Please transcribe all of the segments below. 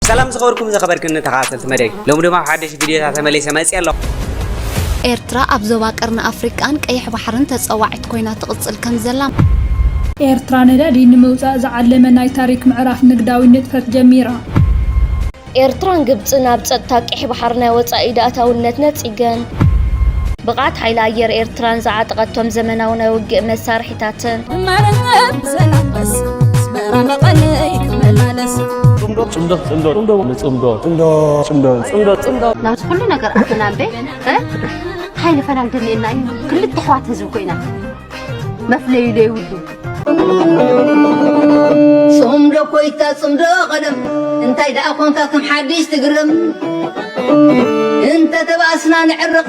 ሰላም ዝኸበርኩም ዘኸበርክን ተኸታተልቲ መደይ ሎሚ ድማ ሓደሽ ቪድዮታት ተመሊሰ መፅየ ኣለኹ ኤርትራ ኣብ ዞባ ቀርኒ ኣፍሪቃን ቀይሕ ባሕርን ተጸዋዒት ኮይና ትቕጽል ከም ዘላ ኤርትራ ነዳዲ ንምውጻእ ዝዓለመ ናይ ታሪክ ምዕራፍ ንግዳዊ ንጥፈት ጀሚራ። ኤርትራን ግብጽን ኣብ ጸጥታ ቀይሕ ባሕሪ ናይ ወጻኢ ኢድ ኣእታውነት ነጺገን። ብቕዓት ሓይሊ ኣየር ኤርትራን ዝዓጠቐቶም ዘመናዊ ናይ ውግእ መሳርሒ፣ ኣዴታትን። ንመረብ ዘላበስ ኣስመራ መቐለይ ክመላለስ ፅምዶ ፅምዶ ፅምዶ ፅምዶ ንፅምዶ ፅምዶ ፅምዶ ፅምዶ ፅምዶ ናብዚ ኩሉ ነገር ኣትና እምበ እንታይ ንፈላል ደልየና እዩ ክልተ ኣሕዋት ህዝቢ ኮይና መፍለዩ ዘይብሉ ፅምዶ ኮይታ ፅምዶ ቀደም እንታይ ደኣ ኮንካ ከም ሓድሽ ትግረም እንተተባእስና ንዕርቕ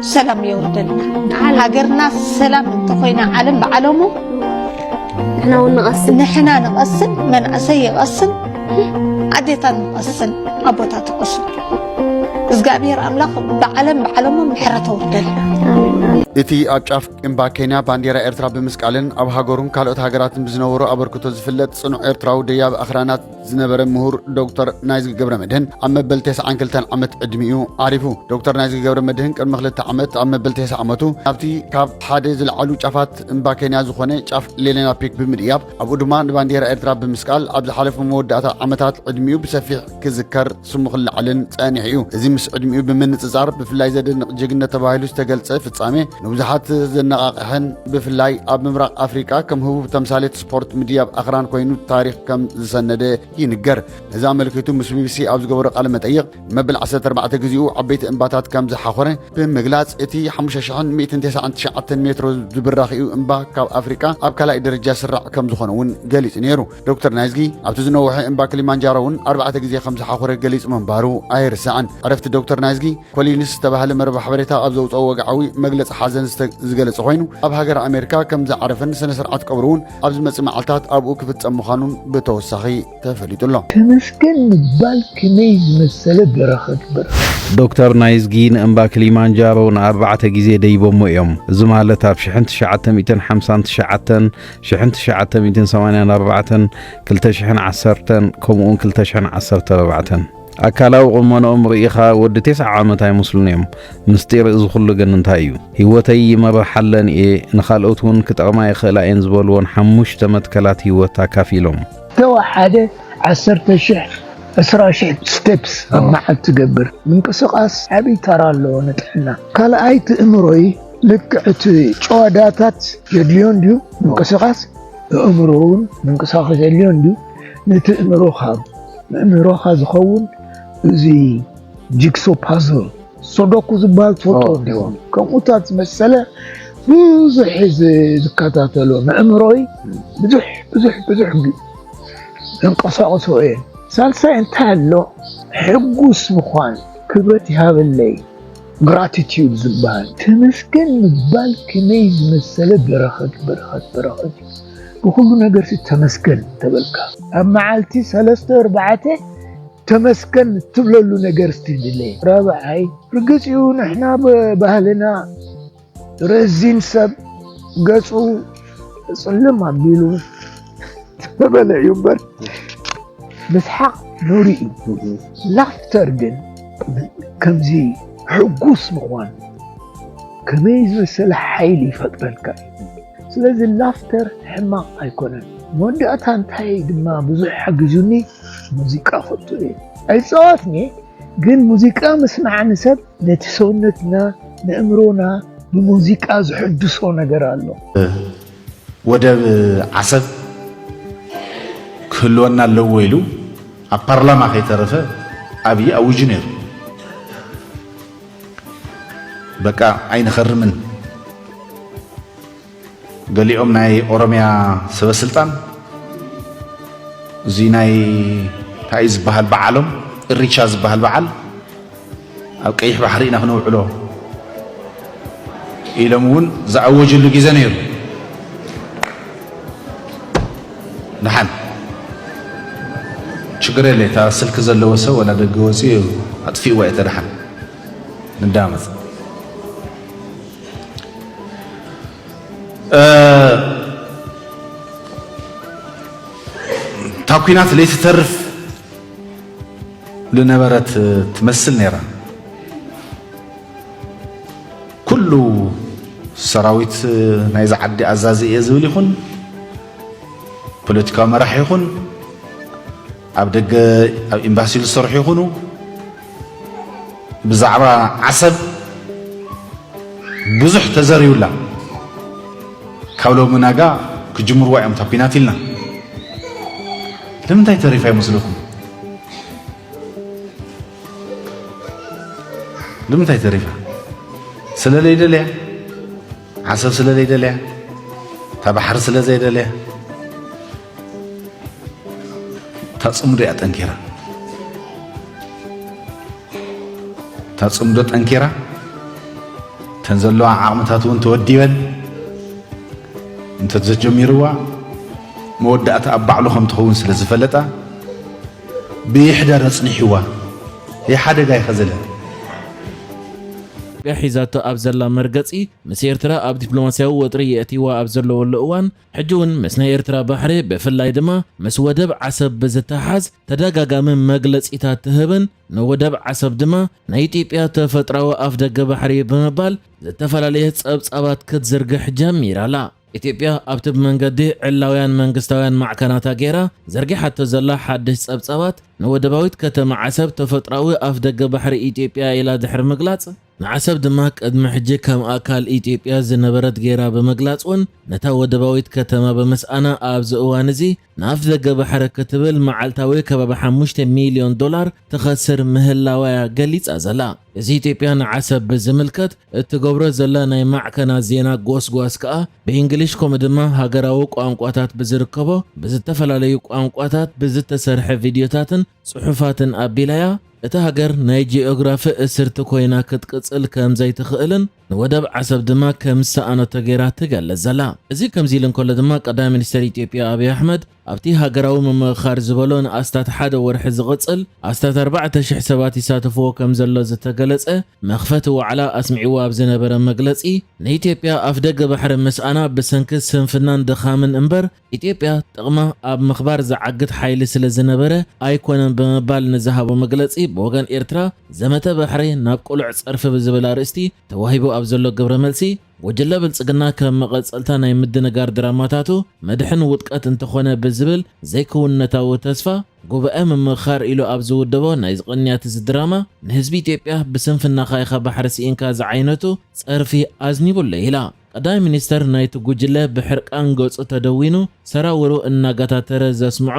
ሰላም የውርደልና ሃገርና ሰላም እንተኾይና ዓለም ብዓለሙ ንሕና እውን ንቐስን ንሕና ንቐስን መንእሰይ ይቐስን ኣዴታት ንቐስን ኣቦታት ይቐስን እግዚኣብሔር ኣምላኽ ብዓለም ብዓለሙ ምሕረት ኣውርደልና እቲ ኣብ ጫፍ እምባ ኬንያ ባንዴራ ኤርትራ ብምስቃልን ኣብ ሃገሩን ካልኦት ሃገራትን ብዝነበሮ ኣበርክቶ ዝፍለጥ ጽኑዕ ኤርትራዊ ደያብ ኣኽራናት ዝነበረ ምሁር ዶክተር ናይዝጊ ገብረ መድህን ኣብ መበል 92 ዓመት ዕድሚኡ ዓሪፉ። ዶክተር ናይዝጊ ገብረ መድህን ቅድሚ ክልተ ዓመት ኣብ መበል 90 ዓመቱ ናብቲ ካብ ሓደ ዝለዓሉ ጫፋት እምባ ኬንያ ዝኾነ ጫፍ ሌሌና ፒክ ብምድያብ ኣብኡ ድማ ንባንዴራ ኤርትራ ብምስቃል ኣብ ዝሓለፉ መወዳእታ ዓመታት ዕድሚኡ ብሰፊሕ ክዝከር ስሙ ክለዓልን ጸኒሑ እዩ። እዚ ምስ ዕድሚኡ ብምንጽጻር ብፍላይ ዘደንቕ ጅግነት ተባሂሉ ዝተገልጸ ፍጻሜ ንብዙሓት ዘነቓቕሐን ብፍላይ ኣብ ምብራቕ ኣፍሪቃ ከም ህቡብ ተምሳሌት ፖርት ምዲ ኣብ ኣኽራን ኮይኑ ታሪኽ ከም ዝሰነደ ይንገር ነዚ ኣመልኪቱ ምስ ቢቢሲ ኣብ ዝገበሮ ቃለ መጠይቕ መበል 14 ግዜኡ ዓበይቲ እምባታት ከም ዝሓኾረ ብምግላጽ እቲ 5199 ሜትሮ ዝብራኺኡ እምባ ካብ ኣፍሪቃ ኣብ ካልኣይ ደረጃ ስራዕ ከም ዝኾነ እውን ገሊጹ ነይሩ ዶክተር ናይዝጊ ኣብቲ ዝነውሐ እምባ ክሊማንጃሮ እውን ኣርባዕተ ግዜ ከም ዝሓኾረ ገሊጹ ምንባሩ ኣይርስዕን ዕረፍቲ ዶክተር ናይዝጊ ኮሊንስ ዝተባህለ መርበብ ሓበሬታ ኣብ ዘውጽኦ ወግዓዊ መግለጺ ሓዘን ዝገለጸ ኮይኑ ኣብ ሃገረ ኣሜሪካ ከም ዝዓረፈን ስነ ስርዓት ቀብሩ እውን ኣብ ዝመጽእ መዓልታት ኣብኡ ክፍጸም ምዃኑን ብተወሳኺ ተፈሊጡ ኣሎ። ተመስገን ምባል ከመይ ዝመሰለ በረኸት በረኸት! ዶክተር ናይዝጊ ንእምባ ክሊማንጃሮ ንኣርባዕተ ግዜ ደይቦሞ እዮም። እዚ ማለት ኣብ ሽሕን ትሽዓተ ሚእትን ሓምሳን ትሽዓተን፣ ሽሕን ትሽዓተ ሚእትን ሰማንያን ኣርባዕተን፣ ክልተ ሽሕን ዓሰርተን ከምኡውን ክልተ ሽሕን ዓሰርተ ኣርባዕተን። ኣካላዊ ቁመንኦም ርኢኻ ወዲ ቴስዓ ዓመት ኣይመስሉን እዮም። ምስጢር እዚ ኩሉ ግን እንታይ እዩ? ሂወተይ ይመርሓለን እየ፣ ንኻልኦት እውን ክጠቕማ ይኽእላ እየን ዝበልዎን ሓሙሽተ መትከላት ሂወት ኣካፊሎም። ዝተወሓደ ዓሰርተ ሽሕ፣ ዕስራ ሽሕ፣ ስቴፕስ ኣብ መዓልቲ ትገብር። ምንቅስቓስ ዓብዪ ተራ ኣለዎ ንጥዕና። ካልኣይ ትእምሮይ ልክዕ እቲ ጭዋዳታት የድልዮ እንድዩ ምንቅስቓስ፣ ኣእምሮ እውን ምንቅስቓስ የድልዮ እንድዩ። ንትእምሮኻ መምህሮኻ ዝኸውን እዚ ጂግሶ ፓዝል ሶዶኩ ዝበሃል ትፈልጦ እንዲዎ ከምኡታት ዝመሰለ ብዙሕ ዝከታተሎ ንእምሮይ ብዙሕ ብዙሕ ብዙሕ ዘንቀሳቕሶ እየ ሳልሳይ እንታይ ኣሎ ሕጉስ ምዃን ክብረት ይሃበለይ Gratitude ዝበሃል ተመስገን ምባል ከመይ ዝመሰለ በረኸት በረኸት በረኸት እዩ ብኹሉ ነገርሲ ተመስገን እንተበልካ ኣብ መዓልቲ ሰለስተ ኣርባዕተ ተመስገን እትብለሉ ነገር እስቲ ድለ ራብዓይ ርግፅ እዩ ንሕና ባህልና ረዚን ሰብ ገጹ ጽልም ኣቢሉ ተበለ እዩ እምበር ምስሓቕ ኑሪ እዩ ላፍተር ግን ከምዚ ሕጉስ ምዃን ከመይ ዝመሰለ ሓይሊ ይፈጥረልካ እዩ ስለዚ ላፍተር ሕማቕ ኣይኮነን መወዳእታ እንታይ ድማ ብዙሕ ሓጊዙኒ ሙዚቃ ፈቱ እየ ኣይፀወትኒ ግን ሙዚቃ ምስማዕ ንሰብ ነቲ ሰውነትና ነእምሮና ብሙዚቃ ዝሕድሶ ነገር ኣሎ። ወደብ ዓሰብ ክህልወና ኣለዎ ኢሉ ኣብ ፓርላማ ከይተረፈ ኣብዪ ኣዊጁ ነይሩ። በቃ ኣይንኸርምን ገሊኦም ናይ ኦሮምያ ሰበስልጣን እዚ ናይ እንታይ እዩ ዝበሃል በዓሎም እሪቻ ዝበሃል በዓል ኣብ ቀይሕ ባሕሪ ኢና ክነውዕሎ ኢሎም እውን ዝኣወጅሉ ግዜ ነይሩ። ድሓን ችግር የለ እታ ስልኪ ዘለዎ ሰብ ወላ ደገ ወፂኡ ኣጥፊእዋ እየ ተድሓን ንዳመፅ እታ ኩናት ለይቲ ተርፍ ዝነበረት ትመስል ነይራ። ኩሉ ሰራዊት ናይዚ ዓዲ ኣዛዚ እየ ዝብል ይኹን ፖለቲካዊ መራሒ ይኹን ኣብ ደገ ኣብ ኤምባሲ ዝሰርሑ ይኹኑ ብዛዕባ ዓሰብ ብዙሕ ተዘርዩላ ካብ ሎሚ ናጋ ክጅምርዋ እዮም እታ ኲናት ኢልና ንምንታይ ተሪፋ ይመስለኩም? ንምንታይ ተሪፋ? ስለ ዘይደለያ ዓሰብ ስለ ዘይደለያ እታ ባሕሪ ስለ ዘይደለያ እታ ፅምዶ እያ ጠንኪራ እታ ፅምዶ ጠንኪራ እተን ዘለዋ ዓቕምታት እውን ተወዲበን እንተዘጀሚርዋ መወዳእታ ኣብ ባዕሉ ከም ትኸውን ስለ ዝፈለጣ ብይሕደር ኣፅኒሕዋ ይሓደጋ ይኸዘለ ኢትዮጵያ ሒዛቶ ኣብ ዘላ መርገፂ ምስ ኤርትራ ኣብ ዲፕሎማስያዊ ወጥሪ የእትይዋ ኣብ ዘለወሉ እዋን ሕጂ ውን ምስ ናይ ኤርትራ ባሕሪ ብፍላይ ድማ ምስ ወደብ ዓሰብ ብዝተሓሓዝ ተደጋጋሚ መግለጺታት ትህብን ንወደብ ዓሰብ ድማ ናይ ኢትዮጵያ ተፈጥራዊ ኣፍደገ ባሕሪ እዩ ብምባል ዝተፈላለየ ጸብጻባት ክትዝርግሕ ጀሚራ ኣላ። ኢትዮጵያ ኣብቲ ብመንገዲ ዕላውያን መንግስታውያን ማዕከናታ ገይራ ዘርጊሓቶ ዘላ ሓድሽ ጸብጻባት ንወደባዊት ከተማ ዓሰብ ተፈጥራዊ ኣፍደገ ባሕሪ ኢትዮጵያ ኢያ ኢላ ድሕሪ ምግላጽ፣ ንዓሰብ ድማ ቅድሚ ሕጂ ከም ኣካል ኢትዮጵያ ዝነበረት ገይራ ብምግላጽ'ውን ነታ ወደባዊት ከተማ ብምስኣና ኣብዚ እዋን እዚ ንኣፍደገ ባሕሪ ክትብል መዓልታዊ ከባቢ ሓሙሽተ ሚልዮን ዶላር ትኸስር ምህላዋ'ያ ገሊጻ ዘላ። እዚ ኢትዮጵያ ንዓሰብ ብዝምልከት እትገብሮ ዘላ ናይ ማዕከናት ዜና ጎስጓስ ከኣ ብኢንግሊሽ ከምኡ ድማ ሃገራዊ ቋንቋታት ብዝርከቦ ብዝተፈላለዩ ቋንቋታት ብዝተሰርሐ ቪድዮታትን ጽሑፋትን ኣቢላ'ያ እታ ሃገር ናይ ጂኦግራፊ እስርቲ ኮይና ክትቅጽል ከም ዘይትኽእልን ንወደብ ዓሰብ ድማ ከም ዝሰኣነቶ ገይራ ትገልጽ ዘላ። እዚ ከምዚ ኢሉ እንከሎ ድማ ቀዳማይ ሚኒስተር ኢትዮጵያ ኣብይ ኣሕመድ ኣብቲ ሃገራዊ ምምእኻር ዝበሎ ንኣስታት ሓደ ወርሒ ዝቕጽል ኣስታት ኣርባዕተ ሽሕ ሰባት ይሳተፍዎ ከም ዘሎ ዝተገለጸ መኽፈቲ ዋዕላ ኣስሚዕዎ ኣብ ዝነበረ መግለጺ ንኢትዮጵያ ኣፍደገ ባሕሪ ምስኣና ብሰንኪ ስንፍናን ድኻምን እምበር ኢትዮጵያ ጥቕማ ኣብ ምኽባር ዝዓግት ሓይሊ ስለ ዝነበረ ኣይኮነን ብምባል ንዝሃቦ መግለጺ ብወገን ኤርትራ ዘመተ ባሕሪ ናብ ቅሉዕ ጸርፊ ብዝብል ኣርእስቲ ተዋሂቡ ኣብ ዘሎ ግብረ መልሲ ጉጅለ ብልጽግና ከም መቐጸልታ ናይ ምድንጋር ድራማታቱ መድሕን ውድቀት እንተኾነ ብዝብል ዘይክውንነታዊ ተስፋ ጉባኤ ምምኽኻር ኢሉ ኣብ ዝውደቦ ናይዚ ቅንያት እዚ ድራማ ንህዝቢ ኢትዮጵያ ብስንፍናኻ ኢኻ ባሕሪ ስኢንካ ዝዓይነቱ ጸርፊ ኣዝኒቡ ኣሎ ኢላ። ቀዳማይ ሚኒስተር ናይቲ ጉጅለ ብሕርቃን ገጹ ተደዊኑ ሰራውሩ እናገታተረ ዘስምዖ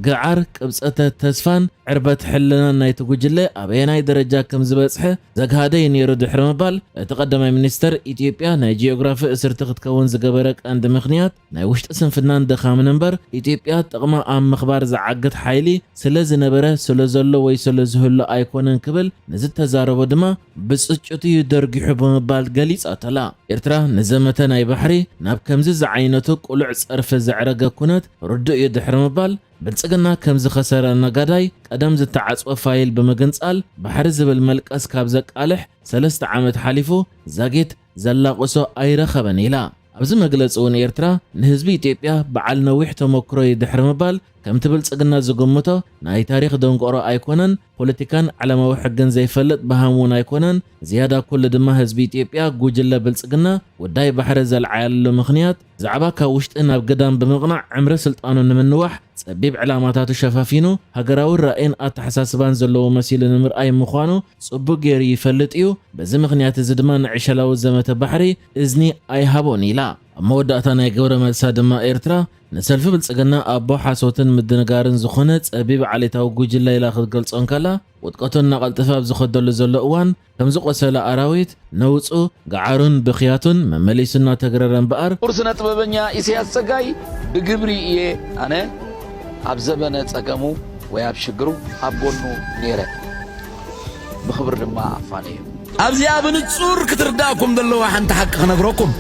ግዓር፣ ቅብጸተ ተስፋን ዕርበት ሕልናን ናይቲ ጉጅለ ኣበየናይ ደረጃ ከም ዝበጽሐ ዘግሃደ'ዩ ነይሩ ድሕሪ ምባል፣ እቲ ቀዳማይ ሚኒስተር፣ ኢትዮጵያ ናይ ጂኦግራፊ እስርቲ ክትከውን ዝገበረ ቀንዲ ምኽንያት ናይ ውሽጢ ስንፍናን ድኻምን'ምበር፣ ኢትዮጵያ ጥቕማ ኣብ ምኽባር ዝዓግት ሓይሊ ስለዝነበረ፣ ስለዘሎ ወይ ስለዝህሉ ኣይኮነን ክብል ንዝተዛረቦ ድማ፣ ብጽጭት እዩ ደርጊሑ ብምባል ገሊጻተላ። ኤርትራ ንዘመተ ናይ ባሕሪ ናብ ከምዚ ዝዓይነቱ ቅሉዕ ጸርፊ ዘዕረገ ኩነት ርዱእ እዩ ድሕሪ ምባል፣ ብልጽግና ከም ዝኸሰረ ነጋዳይ ቀደም ዝተዓጽወ ፋይል ብምግንጻል ባሕሪ ዝብል መልቀስ ካብ ዘቃልሕ ሰለስተ ዓመት ሓሊፉ ዛጊት ዘላቕሶ ኣይረኸበን ኢላ። ኣብዚ መግለጺ እውን ኤርትራ ንህዝቢ ኢትዮጵያ በዓል ነዊሕ ተሞክሮ እዩ ድሕሪ ምባል፣ ከምቲ ብልጽግና ዝግምቶ ናይ ታሪኽ ደንቆሮ ኣይኮነን፣ ፖለቲካን ዓለማዊ ሕግን ዘይፈልጥ በሃም እውን ኣይኮነን፣ ዝያዳ ኩሉ ድማ ህዝቢ ኢትዮጵያ ጉጅለ ብልጽግና ጉዳይ ባሕሪ ዘልዓያልሉ ምኽንያት፣ ብዛዕባ ካብ ውሽጢ ናብ ግዳም ብምቕናዕ ዕምሪ ስልጣኑ ንምንዋሕ ጸቢብ ዕላማታቱ ሸፋፊኑ ሃገራዊ ራእይን ኣተሓሳስባን ዘለዎ መሲሉ ንምርኣይ ምዃኑ ጽቡቕ ገይሩ ይፈልጥ እዩ፣ በዚ ምኽንያት እዚ ድማ ንዕሸላዊ ዘመተ ባሕሪ እዝኒ ኣይሃቦን ኢላ። ኣብ መወዳእታ ናይ ግብረ መልሳ ድማ ኤርትራ ንሰልፊ ብልጽግና ኣቦ ሓሶትን ምድንጋርን ዝኾነ ጸቢብ ዓሌታዊ ጉጅለ ኢላ ክትገልጾ እንከላ፣ ውድቀቱ እናቐልጠፈ ኣብ ዝኸደሉ ዘሎ እዋን ከም ዝቖሰለ ኣራዊት ነውጹ፣ ገዓሩን ብኽያቱን መመሊሱ እናተግረረ እምበኣር፣ ኩቡር ስነ ጥበበኛ ኢሰያስ ጸጋይ ብግብሪ ኢየ ኣነ ኣብ ዘበነ ጸገሙ ወይ ኣብ ሽግሩ ኣብ ጎኑ ኔረ። ብኽብሪ ድማ ኣፋነዩ። ኣብዚኣ ብንጹር ክትርዳእኩም ዘለዋ ሓንቲ ሓቂ ክነግረኩም፣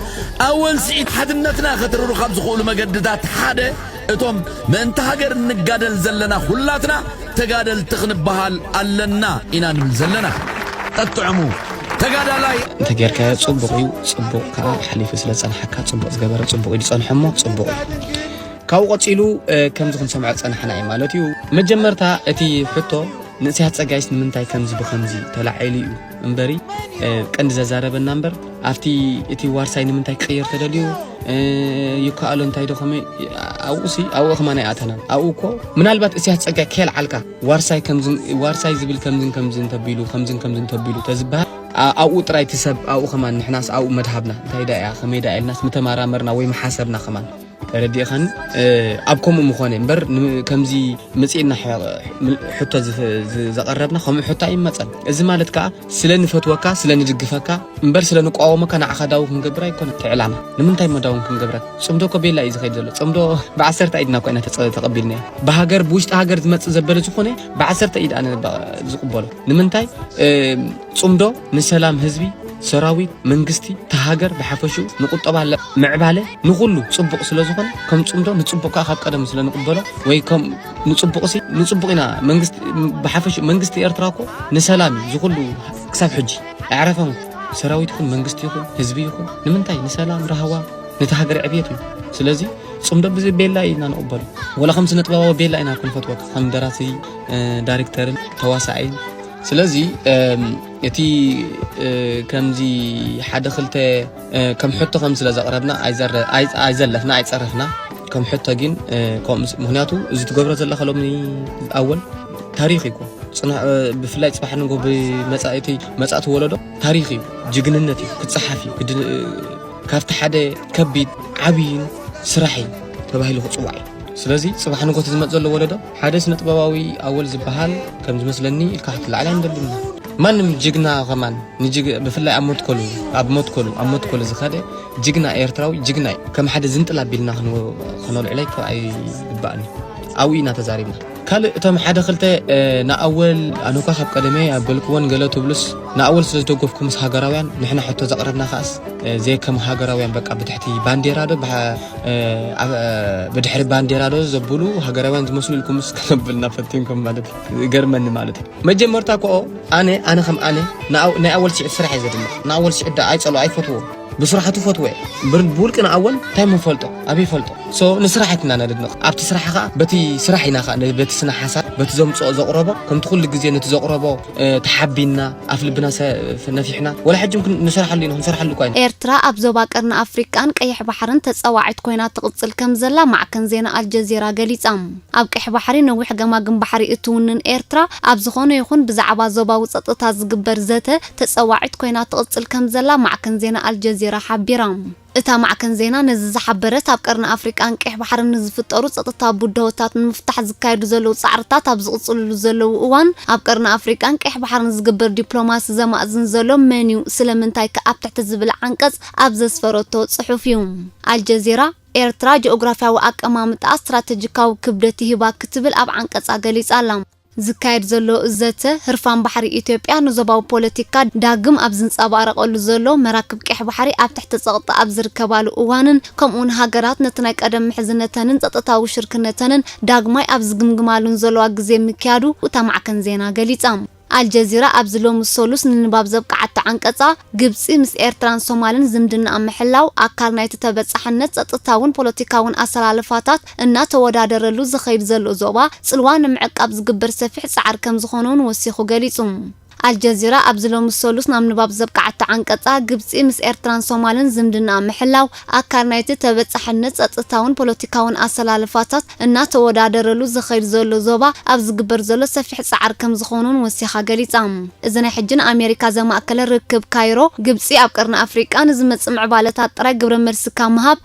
ኣብ ወልሲዒት ሓድነትና ከትርሩ ካብ ዝኽእሉ መገድታት ሓደ እቶም ምእንቲ ሃገር እንጋደል ዘለና ኩላትና ተጋደልቲ ክንበሃል ኣለና ኢና ንብል ዘለና። ጠጥዕሙ ተጋዳላይ! እንተጌርካዮ ጽቡቕ እዩ፣ ጽቡቕ ከኣ ሓሊፉ ስለ ዝጸንሓካ ጽቡቕ ዝገበረ ጽቡቕ ኢሉ ጸንሖ እሞ ጽቡቕ እዩ። ካብኡ ቀጺሉ ከምዚ ክንሰምዖ ዝጸናሕና እዩ ማለት እዩ። መጀመርታ እቲ ሕቶ ንጽህያት ጸጋይስ ንምንታይ ከምዚ ብኸምዚ ተላዒሉ እዩ እምበሪ ቀንዲ ዘዛረበና እምበር ኣብቲ እቲ ዋርሳይ ንምንታይ ክቕየር ተደልዩ ይከኣሎ እንታይ ዶ ከመይ ኣብኡሲ ኣብኡ ከማን ኣይኣተናን ኣብኡ እኮ ምናልባት እስያስ ጸጋይ ከየልዓልካ ዋርሳይ ከምዝን ዋርሳይ ዝብል ከምዝን ከምዝን ተቢሉ ከምዝን ከምዝን ተቢሉ ተዝበሃል ኣብኡ ጥራይ እቲ ሰብ ኣብኡ ከማን ንሕናስ ኣብኡ መድሃብና እንታይ ዳ እያ ከመይ ዳ ኢልናስ ምተመራመርና ወይ መሓሰብና ከማን ተረዲእኻኒ ኣብ ከምኡ ምኾነ እምበር ከምዚ መፅእና ሕቶ ዘቐረብና ከምኡ ሕቶ ኣይመፀን እዚ ማለት ከዓ ስለ ንፈትወካ ስለ ንድግፈካ እምበር ስለ ንቋወመካ ንዓኻ ዳዊ ክንገብር ኣይኮነ ትዕላማ ንምንታይ መዳውን ክንገብረ ፅምዶ እኮ ቤላ እዩ ዝኸይድ ዘሎ ፅምዶ ብዓሰርተ ኢድና ኮይና ተቐቢልና ብሃገር ብውሽጢ ሃገር ዝመፅእ ዘበለ ዝኾነ ብዓሰርተ ኢድ ኣነ ዝቕበሎ ንምንታይ ጽምዶ ንሰላም ህዝቢ፣ ሰራዊት፣ መንግስቲ፣ እታ ሃገር ብሓፈሽኡ ንቁጠባ ምዕባለ ንኹሉ ጽቡቕ ስለ ዝኾነ ከም ጽምዶ ንጽቡቕ ከኣ ካብ ቀደም ስለ ንቕበሎ ወይ ከም ንጽቡቕሲ ንጽቡቕ ኢና መንግስቲ ብሓፈሽኡ መንግስቲ ኤርትራ እኮ ንሰላም እዩ ዝኹሉ ክሳብ ሕጂ ኣዕረፈን ሰራዊት ይኹን መንግስቲ ይኹን ህዝቢ ይኹን ንምንታይ ንሰላም ራህዋ ነቲ ሃገር ዕብየት እዩ ስለዚ ጽምዶ ብዚ ቤላ ኢና ንቕበሎ ወላ ከም ስነ ጥበባዊ ቤላ ኢና ክንፈትወካ ከም ደራሲ ዳይሬክተርን ተዋሳኣይን ስለዚ እቲ ከምዚ ሓደ ክልተ ከም ሕቶ ከም ስለ ዘቕረብና ኣይዘለፍና ኣይፀረፍና ከም ሕቶ ግን ምክንያቱ እዚ ትገብሮ ዘለካ ሎሚ ኣወል ታሪክ እዩ ብፍላይ ፅባሕ ንጎ ብመፃእቲ መፃእቲ ወለዶ ታሪክ እዩ ጅግንነት እዩ ክፀሓፍ እዩ ካብቲ ሓደ ከቢድ ዓብይን ስራሕ እዩ ተባሂሉ ክፅዋዕ እዩ ስለዚ ፅባሕ ንጎ ዝመፅ ዘሎ ወለዶ ሓደ ስነጥበባዊ ኣወል ዝብሃል ከም ዝመስለኒ ኢልካ ክትልዓል ኣይንደልን። ማንም ጅግና ከማን ንጅግ ብፍላይ ኣብ መትከሉ ኣብ መትከሉ ኣብ መትከሉ ዝኸደ ጅግና ኤርትራዊ ጅግና እዩ። ከም ሓደ ዝንጥል ኣቢልና ከነልዕሎ ኣይከ ኣይግባእን እዩ። ኣብኡ ኢና ተዛሪብና። ካልእ እቶም ሓደ ክልተ ንኣወል ኣነ እኳ ካብ ቀደመ ኣበልክዎን ገለ ትብሉስ ንኣወል ስለ ዝደገፍኩምስ ሃገራውያን ንሕና ሕቶ ዘቕረብና ከኣስ ዘይከም ሃገራውያን በቃ ብትሕቲ ባንዴራ ዶ ብድሕሪ ባንዴራ ዶ ዘብሉ ሃገራውያን ዝመስሉ ኢልኩም ስ ከነብልና ፈቲንኩም ማለት እዩ ገርመኒ ማለት እዩ መጀመርታ ኮኦ ኣነ ኣነ ከም ኣነ ናይ ኣወል ስዒድ ስራሕ እየ ዘድንቕ ንኣወል ስዒድ ዳ ኣይፀሎ ኣይፈትዎ ብስራሕቱ ፈትወ ብውልቂ ንኣወል እንታይ ምፈልጦ ኣበይ ፈልጦ ሶ ንስራሕ ኣይትና ነድንቕ ኣብቲ ስራሕ ከዓ በቲ ስራሕ ኢና ከዓ በቲ ስነ ሓሳብ በቲ ዘምፅኦ ዘቕረቦ ከምቲ ኩሉ ግዜ ነቲ ዘቕረቦ ተሓቢንና ኣፍ ልብና ነፊሕና ወላ ሕጂ እውን ንሰርሓሉ ኢና ክንሰርሓሉ እኳ ኢና ኤርትራ ኣብ ዞባ ቀርኒ ኣፍሪቃን ቀይሕ ባሕርን ተጻዋዒት ኮይና ትቕጽል ከምዘላ ማዕከን ዜና ኣልጀዚራ ገሊጻ። ኣብ ቀይሕ ባሕሪ ነዊሕ ገማግም ባሕሪ እትውንን ኤርትራ፣ ኣብ ዝኾነ ይኹን ብዛዕባ ዞባዊ ጸጥታ ዝግበር ዘተ ተጸዋዒት ኮይና ትቕጽል ከምዘላ ማዕከን ዜና ኣልጀዚራ ሓቢራ። እታ ማዕከን ዜና ነዚ ዝሓበረት፣ ኣብ ቀርኒ ኣፍሪቃን ቀይሕ ባሕርን ንዝፍጠሩ ጸጥታዊ ብድሆታት ንምፍታሕ ዝካየዱ ዘለዉ ጻዕርታት ኣብ ዝቕጽልሉ ዘለዉ እዋን፣ ኣብ ቀርኒ ኣፍሪቃን ቀይሕ ባሕርን ዝግበር ዲፕሎማሲ ዘማእዝን ዘሎ መን'ዩ? ስለምንታይ'ከ? ኣብ ትሕቲ ዝብል ዓንቀጽ ኣብ ዘስፈረቶ ጽሑፍ'ዩ። ኣልጀዚራ፣ ኤርትራ ጂኦግራፍያዊ ኣቀማምጣኣ ስትራተጂካዊ ክብደት ይህባ ክትብል ኣብ ዓንቀጻ ገሊጻ'ላ። ዝካየድ ዘሎ ዘተ፣ ህርፋን ባሕሪ ኢትዮጵያ ንዞባዊ ፖለቲካ ዳግም ኣብ ዝንጸባረቐሉ ዘሎ፣ መራክብ ቀይሕ ባሕሪ ኣብ ትሕቲ ጸቕጢ ኣብ ዝርከባሉ እዋንን ከምኡ'ውን ሃገራት ነቲ ናይ ቀደም ምሕዝነተንን ጸጥታዊ ሽርክነተንን ዳግማይ ኣብ ዝግምግማሉን ዘለዋ ግዜ ምክያዱ እታ ማዕከን ዜና ገሊጻ። ኣልጀዚራ ኣብዚ ሎሚ ሰሉስ ንንባብ ዘብቅዓቶ ዓንቀጻ፣ ግብጺ ምስ ኤርትራን ሶማልን ዝምድናኣ ምሕላው፣ ኣካል ናይቲ ተበጻሕነት ጸጥታውን ፖለቲካውን ኣሰላልፋታት፣ እናተወዳደረሉ ዝኸይድ ዘሎ ዞባ ጽልዋ ንምዕቃብ ዝግበር ሰፊሕ ጻዕሪ ከምዝኾነ'ውን ወሲኹ ገሊጹ። ኣልጀዚራ ኣብዚ ሎሚ ሰሉስ ናብ ንባብ ዘብቅዓቶ ዓንቀጻ፣ ግብጺ ምስ ኤርትራን ሶማልን ዝምድናኣ ምሕላው፣ ኣካል ናይቲ ተበጻሕነት ጸጥታውን ፖለቲካውን ኣሰላልፋታት እናተወዳደረሉ ዝኸይድ ዘሎ ዞባ ኣብ ዝግበር ዘሎ ሰፊሕ ጻዕሪ ከምዝኾነ'ውን ወሲኻ ገሊጻ። እዚ ናይ ሕጂ ንኣሜሪካ ዘማእከለ ርክብ ካይሮ፣ ግብጺ ኣብ ቀርኒ ኣፍሪቃ ንዝመጽእ ምዕባለታት ጥራይ ግብረ መልሲ ካብ ምሃብ፣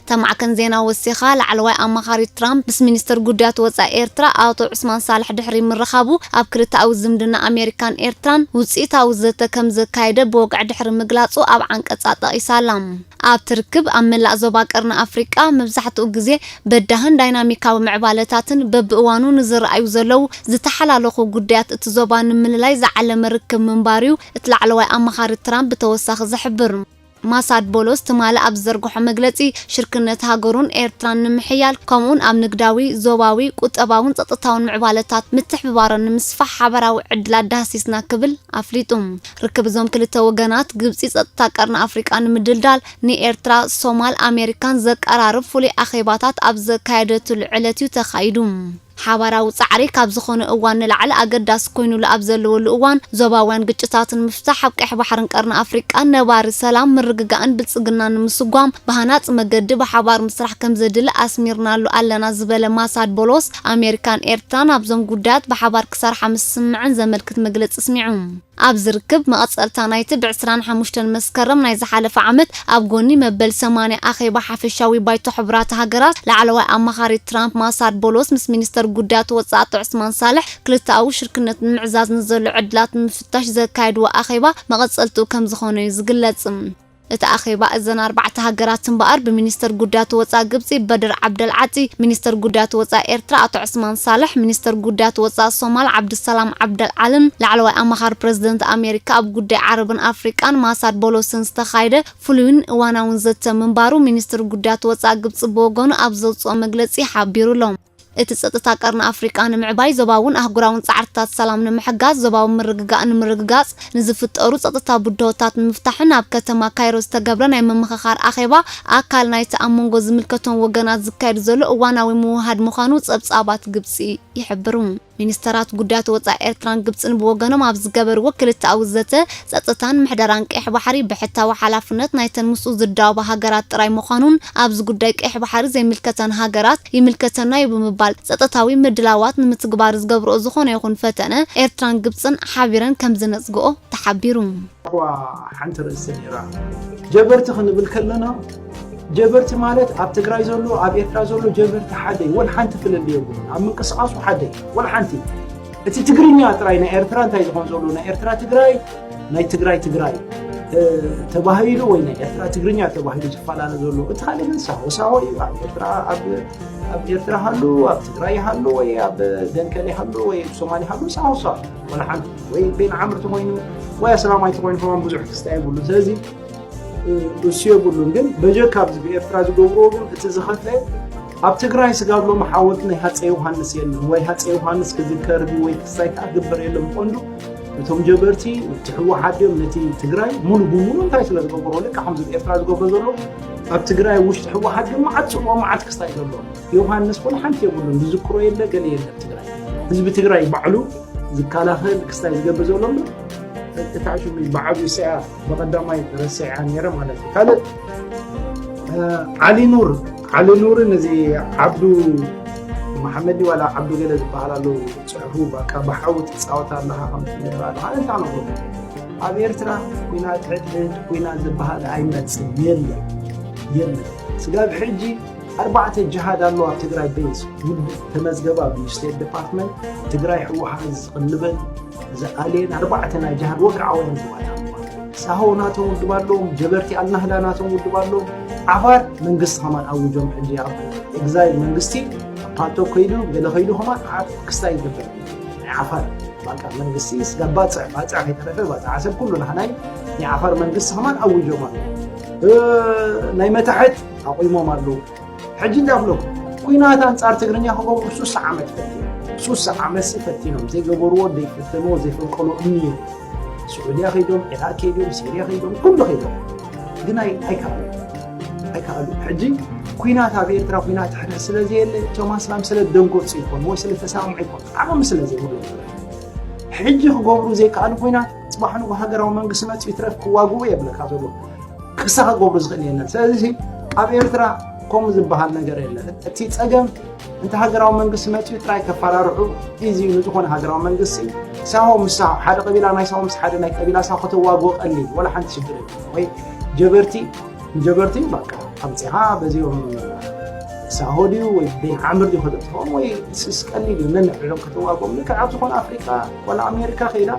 እታ ማዕከን ዜና ወሲኻ፣ ላዕለዋይ ኣማኻሪ ትራምፕ ምስ ሚኒስተር ጉዳያት ወጻኢ ኤርትራ ኣቶ ዑስማን ሳልሕ ድሕሪ ምርኻቡ፣ ኣብ ክልተኣዊ ዝምድና ኣሜሪካን ኤርትራን ውጽኢታዊ ዘተ ከም ዘካየደ ብወግዒ ድሕሪ ምግላጹ ኣብ ዓንቀጻ ጠቒሳ ኣላ። ኣብቲ ርክብ፣ ኣብ መላእ ዞባ ቀርኒ ኣፍሪቃ መብዛሕትኡ ግዜ በዳህን ዳይናሚካዊ ምዕባለታትን በብእዋኑ ንዝረኣዩ ዘለዉ ዝተሓላለኹ ጉዳያት እቲ ዞባ ንምልላይ ዝዓለመ ርክብ ምንባሩ'ዩ እቲ ላዕለዋይ ኣማኻሪ ትራምፕ ብተወሳኺ ዝሕብር። ማሳድ ቦሎስ ትማሊ ኣብ ዝዘርግሖ መግለጺ፣ ሽርክነት ሃገሩን ኤርትራን ንምሕያል፣ ከምኡ'ውን ኣብ ንግዳዊ፣ ዞባዊ፣ ቁጠባውን ጸጥታውን ምዕባለታት ምትሕብባሮ ንምስፋሕ ሓባራዊ ዕድላት ዳህሲስና ክብል ኣፍሊጡ። ርክብ እዞም ክልተ ወገናት፣ ግብጺ ጸጥታ ቀርኒ ኣፍሪቃ ንምድልዳል ንኤርትራ፣ ሶማል፣ ኣሜሪካን ዘቀራርብ ፍሉይ ኣኼባታት ኣብ ዘካየደትሉ ዕለት'ዩ ተኻይዱ። ሓባራዊ ጻዕሪ ካብ ዝኾነ እዋን ንላዕሊ ኣገዳሲ ኮይኑሉ ኣብ ዘለወሉ እዋን፣ ዞባውያን ግጭታት ንምፍታሕ፣ ኣብ ቀይሕ ባሕርን ቀርኒ ኣፍሪቃን ነባሪ ሰላም፣ ምርግጋእን ብልጽግናን ንምስጓም ብሃናጺ መገዲ ብሓባር ምስራሕ ከምዘድሊ ኣስሚርናሉ ኣለና ዝበለ ማሳድ ቦሎስ፣ ኣሜሪካን ኤርትራን ኣብዞም ጉዳያት ብሓባር ክሰርሓ ምስስምዐን ዘመልክት መግለጺ ኣስሚዑ። ኣብ ዝርክብ መቐጸልታ ናይቲ ብ ዕስራን ሓሙሽተን መስከረም ናይ ዝሓለፈ ዓመት ኣብ ጎኒ መበል ሰማንያ ኣኼባ ሓፈሻዊ ባይቶ ሕቡራት ሃገራት ላዕለዋይ ኣማኻሪ ትራምፕ ማሳድ ቦሎስ ምስ ሚኒስተር ጉዳያት ወጻእቲ ዑስማን ሳልሕ ክልተኣዊ ሽርክነት ንምዕዛዝ ንዘሎ ዕድላት ንምፍታሽ ዘካየድዎ ኣኼባ መቐጸልትኡ ከምዝኾነ'ዩ ዝግለጽ። እቲ ኣኼባ እዘን ኣርባዕተ ሃገራት እምበኣር ብሚኒስተር ጉዳያት ወጻኢ ግብጺ በድር ዓብደል ዓጢ፣ ሚኒስተር ጉዳያት ወጻኢ ኤርትራ ኣቶ ዑስማን ሳልሕ፣ ሚኒስተር ጉዳያት ወጻኢ ሶማል ዓብዱሰላም ዓብደል ዓልን ላዕለዋይ ኣማኻሪ ፕረዚደንት ኣሜሪካ ኣብ ጉዳይ ዓረብን ኣፍሪቃን ማሳድ ቦሎስን ዝተኻየደ ፍሉይን እዋናውን ዘተ ምንባሩ ሚኒስትሪ ጉዳያት ወጻኢ ግብጺ ብወገኑ ኣብ ዘውጽኦ መግለጺ ሓቢሩ'ሎ። እቲ ጸጥታ ቀርኒ ኣፍሪቃ ንምዕባይ፣ ዞባውን ኣህጉራውን ጻዕርትታት ሰላም ንምሕጋዝ፣ ዞባዊ ምርግጋእ ንምርግጋጽ፣ ንዝፍጠሩ ጸጥታዊ ብድሆታት ንምፍታሕን ኣብ ከተማ ካይሮ ዝተገብረ ናይ ምምኽኻር ኣኼባ ኣካል ናይቲ ኣብ መንጎ ዝምልከቶም ወገናት ዝካየድ ዘሎ እዋናዊ ምውህሃድ ምዃኑ ጸብጻባት ግብጺ ይሕብሩ። ሚኒስተራት ጉዳያት ወጻኢ ኤርትራን ግብጽን ብወገኖም ኣብ ዝገበርዎ ክልተኣዊ ዘተ፣ ጸጥታን ምሕደራን ቀይሕ ባሕሪ ብሕታዊ ሓላፍነት ናይተን ምስኡ ዝዳወባ ሃገራት ጥራይ ምዃኑን ኣብዚ ጉዳይ ቀይሕ ባሕሪ ዘይምልከተን ሃገራት ይምልከተና'ዩ ብምባል ጸጥታዊ ምድላዋት ንምትግባር ዝገብርኦ ዝኾነ ይኹን ፈተነ ኤርትራን ግብጽን ሓቢረን ከምዝነጽግኦ ተሓቢሩ። እኳ ሓንቲ ርእሲ ነይራ። ጀበርቲ ክንብል ከለና ጀበርቲ ማለት ኣብ ትግራይ ዘሎ ኣብ ኤርትራ ዘሎ ጀበርቲ ሓደ እዩ። ወላ ሓንቲ ፍልልይ የብሉን። ኣብ ምንቅስቓሱ ሓደ እዩ። ወላ ሓንቲ እቲ ትግርኛ ጥራይ ናይ ኤርትራ እንታይ ዝኾን ዘሎ ናይ ኤርትራ ትግራይ ናይ ትግራይ ትግራይ ተባሂሉ ወይ ናይ ኤርትራ ትግርኛ ተባሂሉ ዝፈላለ ዘሎ እቲ ካልእ ግን ሳሆ ሳሆ እዩ። ኣብ ኤርትራ ኣብ ኣብ ኤርትራ ሃሉ ኣብ ትግራይ ሃሉ ወይ ኣብ ደንከል ሃሉ ወይ ሶማሌ ሃሉ ሳሆ ሳሆ ወላ ሓንቲ ወይ ቤን ዓምር ተኮይኑ ወይ ኣስላማይ ተኮይኑ ከማን ብዙሕ ክስታ የብሉን ስለዚ እሱ የብሉን ግን በጀካ ኣብዚ ብኤርትራ ዝገብርዎ ግን እቲ ዝኸፈ ኣብ ትግራይ ስጋብሎ መሓወልቲ ናይ ሃፀ ዮሃንስ የለን ወይ ሃፀ ዮሃንስ ክዝከር ወይ ክስታይ ከዓ ግበር የለን ብቀንዱ እቶም ጀበርቲ እቲ ህወሓት ድዮም ነቲ ትግራይ ሙሉ ብሙሉ እንታይ ስለ ዝገበሮ ልካ ከምዚ ኤርትራ ዝገብሮ ዘሎ ኣብ ትግራይ ውሽጢ ህወሓት ግን መዓት ፅልኦ መዓት ክስታይ ዘለዎ ዮውሃንስ ወላ ሓንቲ የብሉን ዝዝክሮ የለ ገለ የለ ትግራይ ህዝቢ ትግራይ ባዕሉ ዝከላኸል ክስታይ ዝገብር ዘሎ እምበር እታ ሽሙ ብዓብዩ ስያ ብቐዳማይ ረስዕያ ነይረ ማለት እዩ ካልእ ዓሊ ኑር ዓሊ ኑርን እዚ ዓብዱ መሓመድ ዋላ ዓብዱ ገለ ዝበሃል ኣሎ ፅሑፉ በቃ ብሓዊ ትፃወት ኣለካ ከም ትብል ኣለካ እንታይ ነብሎ ኣብ ኤርትራ ኩናት ሕድሕድ ኩናት ዝበሃል ኣይመፅን የለን የለን ስጋብ ሕጂ ኣርባዕተ ጅሃድ ኣሎ ኣብ ትግራይ ቤዝ ተመዝገበ ኣብ ስቴት ዲፓርትመንት ትግራይ ህወሓት ዝቕልበን ዝኣልየን ኣርባዕተ ናይ ጅሃድ ወግዓውያን ዝባላ ሳሆ ናቶም ውድብ ኣለዎም ጀበርቲ ኣልናህዳ ናቶም ውድብ ኣለዎም ዓፋር መንግስቲ ከማን ኣውጆም ሕጂ ኣብ ኤግዛይል መንግስቲ ፓቶ ከይዱ ገለ ከይዱ ከማን ኣብ ክስታይ ይግበር ናይ ዓፋር ባቃ መንግስቲ ስጋ ባፅዕ ባፅዕ ከይተረፈ ባፅዕ ዓሰብ ኩሉ ናህናይ ናይ ዓፋር መንግስቲ ከማን ኣውጆም ኣለዎ ናይ መታሕት ኣቑሞም ኣለዉ ሕጂ እንታይ ክብለኩም ኩናት ኣንጻር ትግርኛ ክገብሩ ሱሳ ዓመት ፈቲኖም ሱሳ ዓመት ፈቲኖም ዘይገበርዎ ዘይፈተንዎ ዘይፈልቀሉ እምኒ እዩ ስዑድያ ከይዶም ዒራቅ ከይዶም ሲርያ ከይዶም ኩሉ ከይዶም ግን ኣይከኣሉ ኣይከኣሉ ሕጂ ኩናት ኣብ ኤርትራ ኩናት ሕነ ስለ ዘየለ እቶም ኣስላም ስለ ደንጎፅ ይኮኑ ወይ ስለ ተሰማምዑ ይኮኑ ዓቕሚ ስለ ዘይብሎም ሕጂ ክገብሩ ዘይከኣሉ ኩናት ፅባሕ ንጉ ሃገራዊ መንግስቲ መፅ ይትረፍ ክዋግኡ የብለካ ዘሎ ክሳ ክገብሩ ዝኽእል የለን ስለዚ ኣብ ኤርትራ ከምኡ ዝበሃል ነገር የለን እቲ ፀገም እንተ ሃገራዊ መንግስቲ መፅኡ ጥራይ ከፈራርሑ እዚ ንዝኾነ ሃገራዊ መንግስቲ ሳሆ ምስ ሓደ ቀቢላ ናይ ሳሆ ምስ ሓደ ናይ ቀቢላ ሳሆ ከተዋግቦ ቀሊል ወላ ሓንቲ ሽግር ወይ ጀበርቲ ንጀበርቲ በቃ ኣምፅኻ በዚኦም ሳሆ ድዩ ወይ ቤን ዓምር ድዩ ከተጥፍኦም ወይ ስስ ቀሊል እዩ ነንሕሎም ከተዋግቦም ልክዕ ኣብ ዝኾነ ኣፍሪቃ ዋላ ኣሜሪካ ከይዳ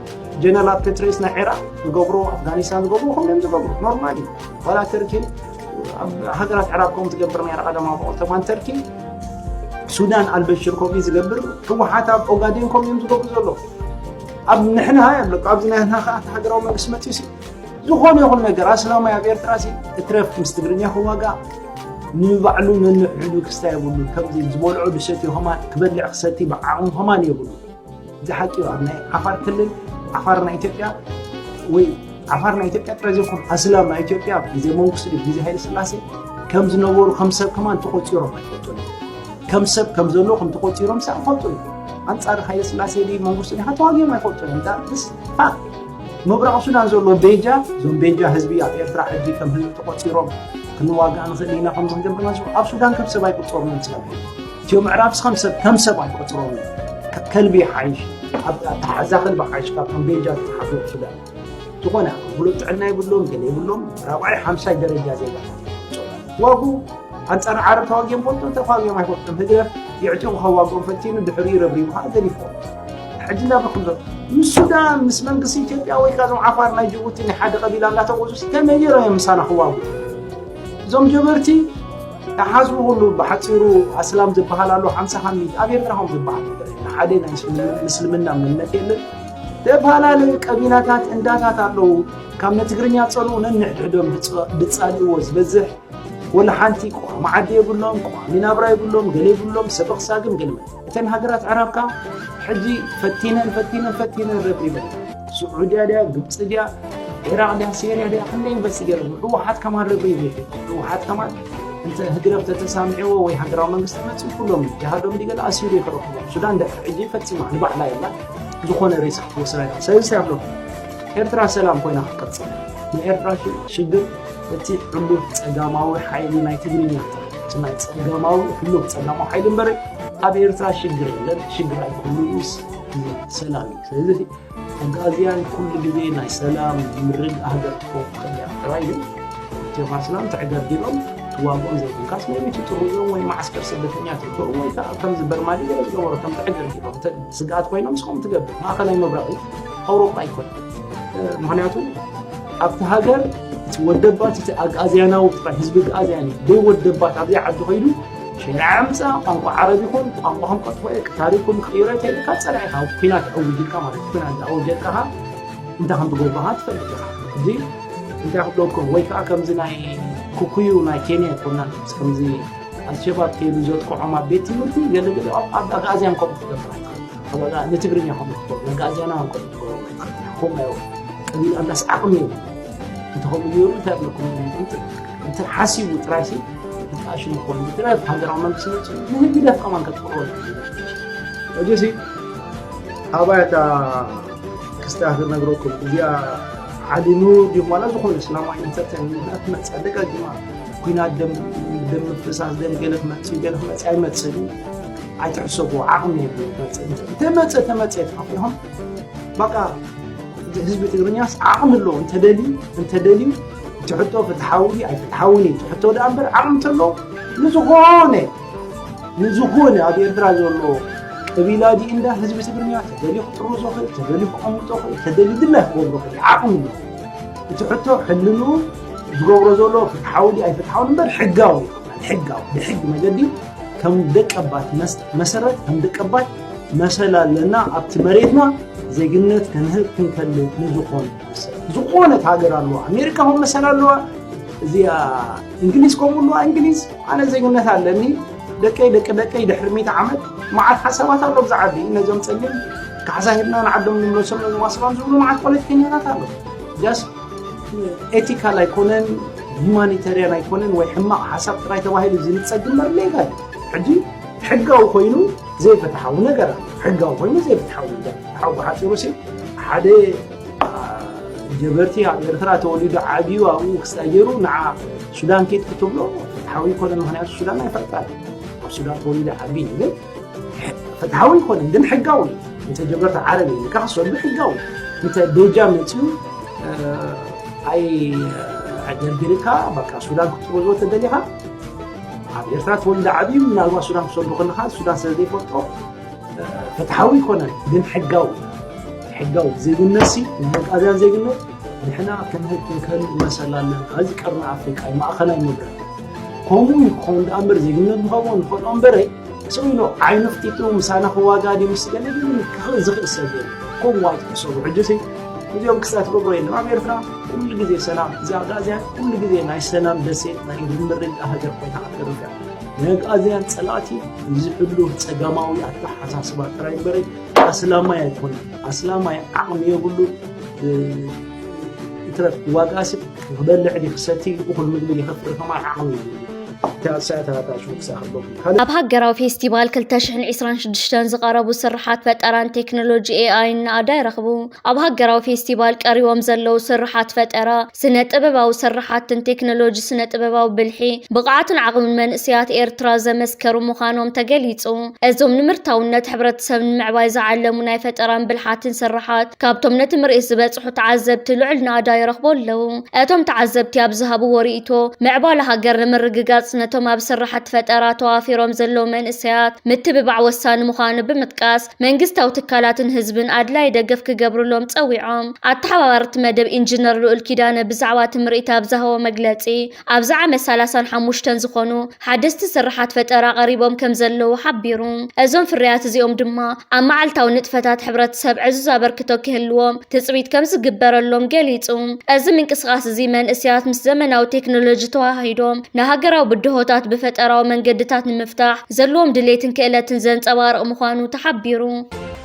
ጀነራላት ፔትሬስ ናይ ዒራቅ ዝገብሮ ኣፍጋኒስታን ዝገብሮ ከምኡ እዮም ዝገብሩ ኖርማል እዩ ዋላ ተርኪ ኣብ ሃገራት ዕራብ ከምኡ ትገብር ነራ ቀዳማዊ በቆል ተማን ተርኪ ሱዳን ኣልበሽር ከምኡ እዩ ዝገብር ህወሓት ኣብ ኦጋዴን ከምኡ እዮም ዝገብሩ ዘሎ ኣብ ንሕና ኣለኩ ኣብዚ ናይ ህና ከዓ ሃገራዊ መንግስቲ መፅኡ ሲ ዝኾነ ይኹን ነገር ኣስላማይ ኣብ ኤርትራ ሲ እትረፍ ምስ ትግርኛ ክዋጋእ ንባዕሉ ነንሕዱ ክስታ የብሉ ከምዚ ዝበልዖ ድሰት እዩ ከማን ክበልዕ ክሰቲ ብዓቕሙ ከማን የብሉ እዚ ሓቂ እዩ ኣብ ናይ ዓፋር ክልል ዓፋር ናይ ኢትዮጵያ ወይ ዓፋር ናይ ኢትዮጵያ ጥራይ ዘይኮኑ ኣስላም ናይ ኢትዮጵያ ኣብ ግዜ መንግስቲ ግዜ ሃይለ ስላሴ ከም ዝነበሩ ከም ሰብ ከማን ተቆፂሮም ኣይፈልጡ ከም ሰብ ከም ዘሎ ከም ተቆፂሮም ሳ ይፈልጡ ኣንፃር ሃይለ ስላሴ ድ መንግስቲ ዲካ ተዋጊኦም ኣይፈልጡ ምብራቕ ሱዳን ዘሎ ቤጃ እዞም ቤጃ ህዝቢ ኣብ ኤርትራ ሕጂ ከም ህዝቢ ተቆፂሮም ክንዋጋእ ንኽእል ኢና ከም ዝጀምርና ኣብ ሱዳን ከም ሰብ ኣይቁፀሩን እትዮ ምዕራብ ስኸም ከም ሰብ ኣይቆፅሮም ከልቢ ይሓይሽ ኣተሓዛ ከልቢ ሓይሽ ካብ ከም ቤጃ ዝሓፍሩ ሱዳን ዝኾነ ብሉፅ ጥዕና ይብሎም ገለ ይብሎም ራብዓይ ሓምሳይ ደረጃ ዜጋ ዋጉ ኣንፃር ዓረብ ተዋጊኦም ፈልጦ ተዋጊኦም ኣይፈልጦም ህግደፍ የዕጢቑ ከዋግኦም ፈቲኑ ድሕሪኡ ረብሪቡ ከዓ ገዲፎም ሕጂ ናብ ከምዞ ምስ ሱዳን ምስ መንግስቲ ኢትዮጵያ ወይ ከዓ እዞም ዓፋር ናይ ጅቡቲ ናይ ሓደ ቀቢላ እናተቆዙ ከመይ ጌሮም እዮም ምሳና ክዋጉ እዞም ጀበርቲ ተሓዝቡ ኩሉ ብሓፂሩ ኣስላም ዝበሃል ኣሎ ሓምሳ ሓሚድ ኣብ ኤርትራ ከም ዝበሃል ነገር የለ ሓደ ናይ ምስልምና እምነት የለን ተፈላለዩ ቀቢላታት እንዳታት ኣለዉ ካብ ንትግርኛ ፀልኡ ነንሕድሕዶም ድፃልእዎ ዝበዝሕ ወላ ሓንቲ ቋሚ ዓዲ የብሎም ቋሚ ናብራ የብሎም ገለ የብሎም ሰበኽ ሳግም ገለ እተን ሃገራት ኣዕራብ ከኣ ሕጂ ፈቲነን ፈቲነን ፈቲነን ረብሪበን ስዑድያ ድያ ግብፂ ድያ ዒራቅ ድያ ሴርያ ድያ ክንደይ ዩኒቨርሲቲ ገይረን ህወሓት ከማን ረብሪቡ እዩ ህወሓት ከማን እንተ ህግደፍ ተተሳሚዕዎ ወይ ሃገራዊ መንግስቲ መፅኡ ኩሎም እዩ ጃሃዶም ዲገለ ኣሲሩ እዩ ክረኽቦም ሱዳን ደፍዕ ሕጂ ፈፂማ ንባዕላ የላ ዝኾነ ሬሳ ክትወስዳ ኢላ ስለዚ ኣብሎ ኤርትራ ሰላም ኮይና ክትቅፅል ንኤርትራ ሽግር እቲ ዕሉግ ጸጋማዊ ሓይሊ ናይ ትግርኛ ተረድቲ ናይ ጸጋማዊ ዕሉግ ጸጋማዊ ሓይሊ እምበር ኣብ ኤርትራ ሽግር የለን ሽግር ኣይኮኑስ ሰላም እዩ ስለዚ ኣጋዝያን ኩሉ ግዜ ናይ ሰላም ምርግ ሃገር ትኾን ከያ ጥራይ እዩ ኢትዮካ ሰላም ተዕገርጊሮም ዋግኦም ዘይብልካስ ናይ ቤቱ ጥሩዞም ወይ ማዓስከር ስደተኛ ትልበሩ ወይ ከዓ ከምዚ በርማሊ ገለ ዝገበሩ ከም ተዕገርጊሮም ስግኣት ኮይኖም ስኹም ትገብር ማእኸላይ መብራቂ ኣውሮፓ ኣይኮነ ምክንያቱ ኣብቲ ሃገር እቲ ወደባት እቲ ኣግኣዝያናዊ ጥራይ ህዝቢ ኣግኣዝያን እዩ ዘይወደባት ኣብዘይ ዓዲ ኮይዱ ሸሪዓ ምፃ ቋንቋ ዓረብ ይኹን ቋንቋ ከም ቀጥፎ እየ ታሪኩም ክቅይሮ ተይልካ ፀላኢ ኢኻ ኩናት ዕውጅ ኢልካ ማለት እዩ ኩናት ዝኣወጀልካ ኸ እንታይ ከም ትገብርካ ትፈልጥ ኢኻ እዚ እንታይ ክብለኩም ወይ ከዓ ከምዚ ናይ ኩኩዩ ናይ ኬንያ ይኮና ከምዚ ኣልሸባብ ከይዱ ዘጥቅዖም ኣብ ቤት ትምህርቲ ገለገለ ኣብ ኣግኣዝያን ከምኡ ክገብራ ኣባላ ንትግርኛ ከም ትገብሩ ንጋጃና ከም ትገብሩ ኮም ኣዮ እሚን ኣምላስ ዓቕሚ እዩ እንተኸም እዩ እንታይ ብለኩም እንተ ሓሲቡ ጥራይ ሲ ብጣዕሽ ምኮኑ ብጥራይ ሃገራዊ መንግስቲ መፅ ንህግ ደፍ ከማን ከትቅርቦ እጅሲ ኣባያታ ክስታት ነግረኩም እዚኣ ዓሊ ኑር ድዩ ዋላ ዝኾነ እስላማዊ ኢንተርቴንመንት መፅ ደጋጊማ ኩናት ደም ደም ምፍሳስ ደም ገለ ክመፅእ ገለ ክመፅእ ኣይመፅእን ኣይትሕሰቡ ዓቕሚ የብሉን ክመፅእ እንተ- እንተመፀ ተመፀ ተኸፊኹም በቃ ህዝቢ ትግርኛስ ዓቕሚ ኣለዎ እንተደልዩ እንተደልዩ እቲ ሕቶ ፍትሓዊ ድዩ ኣይፍትሓውን እዩ እቲ ሕቶ ደኣ እምበር ዓቕሚ እንተለዎ ንዝኾነ ንዝኾነ ኣብ ኤርትራ ዘሎ ቀቢላ ድዩ እንዳ ህዝቢ ትግርኛ ተደልዩ ክጥርዞ ክእል ተደልዩ ክቐምጦ ክእል ተደልዩ ድላይ ክገብሮ ክእል እዩ። ዓቕሚ ኣለዎ እቲ ሕቶ ሕልንኡ ዝገብሮ ዘሎ ፍትሓዊ ድዩ ኣይፍትሓውን እምበር ሕጋዊ እዩ። ሕጋዊ ብሕጊ መገዲ ከም ደቀባት መሰረት ከም ደቀባት መሰል ኣለና ኣብቲ መሬትና ዜግነት ከንህብ ክንከል ንዝኾነ ዝኾነት ሃገር ኣለዋ ኣሜሪካ ኹም መሰል ኣለዋ እዚኣ እንግሊዝ ከምኡ ኣለዋ እንግሊዝ ኣነ ዜግነት ኣለኒ ደቀይ ደቂ ደቀይ ድሕሪ ሚት ዓመት መዓት ሓሳባት ኣሎ ብዛዕባ ነዞም ፀሊም ካሕሳ ሂብና ንዓዶም ንምለሶም ነዞም ኣስላም ዝብሉ መዓት ፖለቲከኛታት ኣሎ ኤቲካል ኣይኮነን ሂማኒታርያን ኣይኮነን ወይ ሕማቕ ሓሳብ ጥራይ ተባሂሉ ዝንፀግ እምበር ሌጋ እዩ ሕጂ ሕጋዊ ኮይኑ ዘይፍትሓዊ ነገር ኣሎ ሕጋዊ ኮይኑ ዘይፍትሓዊ ነገር ሓው ብሓፂሩ ሲ ሓደ ጀበርቲ ኣብ ኤርትራ ተወሊዱ ዓብዩ ኣብኡ ክስታይ ገይሩ ንዓ ሱዳን ኬት ክትብሎ ሓዊ ኮነ ምክንያቱ ሱዳን ኣይፈልጣን ኣብ ሱዳን ተወሊደ ዓብዪ ግን ፍትሓዊ ኣይኮነን ግን ሕጋዊ እንተ ጀበርቲ ዓረብ እዩ ካ ክሰዱ ሕጋዊ እንተ ቤጃ መፅኡ ኣይ ደርቢርካ በቃ ሱዳን ክትጥበዝዎ ተደሊኻ ኣብ ኤርትራ ተወልደ ዓብዩ ምናልባት ሱዳን ክሰዱ ከለካ ሱዳን ስለ ዘይፈልጦ ፍትሓዊ ኣይኮነን ግን ሕጋዊ ሕጋዊ ዜግነት ሲ ንመቃዝያን ዜግነት ንሕና ክንህብ ክንከልእ መሰል ኣለና እዚ ቀርኒ ኣፍሪቃ እዩ ማእኸላይ ምብራቅ ከምኡ እዩ ክኸውን ደኣ እምበር ዜግነት ንኸምኡ ንኸልኦ እምበረይ ስቕ ኢሉ ዓይኑ ክጢጡ ምሳና ክዋጋ ድዩ ምስ ገለ ግን ክኽእል ዝኽእል ሰብ የለ ከምኡ ኣይትሕሰቡ ሕጅሲ እዚኦም ክሳት ትገብሮ የለም ኣብ ኤርትራ ኩሉ ግዜ ሰላም እዚ ኣግኣዝያን ኩሉ ግዜ ናይ ሰላም ደሴት ናይ ርምርግ ሃገር ኮይና ክትርገዕ ናይ ኣግኣዝያን ፀላእቲ እዚ ሕሉ ፀጋማዊ ኣተሓሳስባ ጥራይ እምበረይ ኣስላማይ ኣይኮነ ኣስላማይ ዓቕሚ የብሉ ይትረፍ ዋጋ ስብ ክበልዕ ድዩ ክሰቲ እዩ እኹል ምግቢ ድዩ ከፍሪ ከማን ዓቕሚ የብሉን እታ ሳያት ኣታ ሽውክሳ ከለኹም ካልእ ኣብ ሃገራዊ ፌስቲቫል 2026 ዝቐረቡ ስርሓት ፈጠራን ቴክኖሎጂ ኤኣይን ናእዳ ይረኽቡ። ኣብ ሃገራዊ ፌስቲቫል ቀሪቦም ዘለዉ ስርሓት ፈጠራ፣ ስነ ጥበባዊ ስርሓትን ቴክኖሎጂ ስነ ጥበባዊ ብልሒ፣ ብቕዓትን ዓቕምን መንእሰያት ኤርትራ ዘመስከሩ ምዃኖም ተገሊጹ። እዞም ንምርታውነት ሕብረተሰብ ንምዕባይ ዝዓለሙ ናይ ፈጠራን ብልሓትን ስርሓት ካብቶም ነቲ ምርኢት ዝበጽሑ ተዓዘብቲ ልዑል ናእዳ ይረኽቡ ኣለዉ። እቶም ተዓዘብቲ ኣብ ዝሃብዎ ርእይቶ፣ ምዕባለ ሃገር ንምርግጋጽ ነቶም ኣብ ስርሓት ፈጠራ ተዋፊሮም ዘለዉ መንእሰያት ምትብባዕ ወሳኒ ምዃኑ ብምጥቃስ፣ መንግስታዊ ትካላትን ህዝብን ኣድላዪ ደገፍ ክገብርሎም ጸዊዖም። ኣተሓባባሪ እቲ መደብ ኢንጂነር ልኡል ኪዳነ ብዛዕባ እቲ ምርኢት ኣብ ዝሃቦ መግለጺ፣ ኣብዚ ዓመት ሰላሳን ሓሙሽተን ዝኾኑ ሓደስቲ ስርሓት ፈጠራ ቀሪቦም ከምዘለዉ ሓቢሩ። እዞም ፍርያት እዚኦም ድማ ኣብ መዓልታዊ ንጥፈታት ሕብረተሰብ ዕዙዝ ኣበርክቶ ክህልዎም ትጽቢት ከምዝግበረሎም ገሊጹ። እዚ ምንቅስቓስ እዚ መንእሰያት ምስ ዘመናዊ ቴክኖሎጂ ተወሃሂዶም ንሃገራዊ ብድሆታት ብፈጠራዊ መንገድታት ንምፍታሕ ዘለዎም ድሌትን ክእለትን ዘንጸባርቕ ምዃኑ ተሓቢሩ።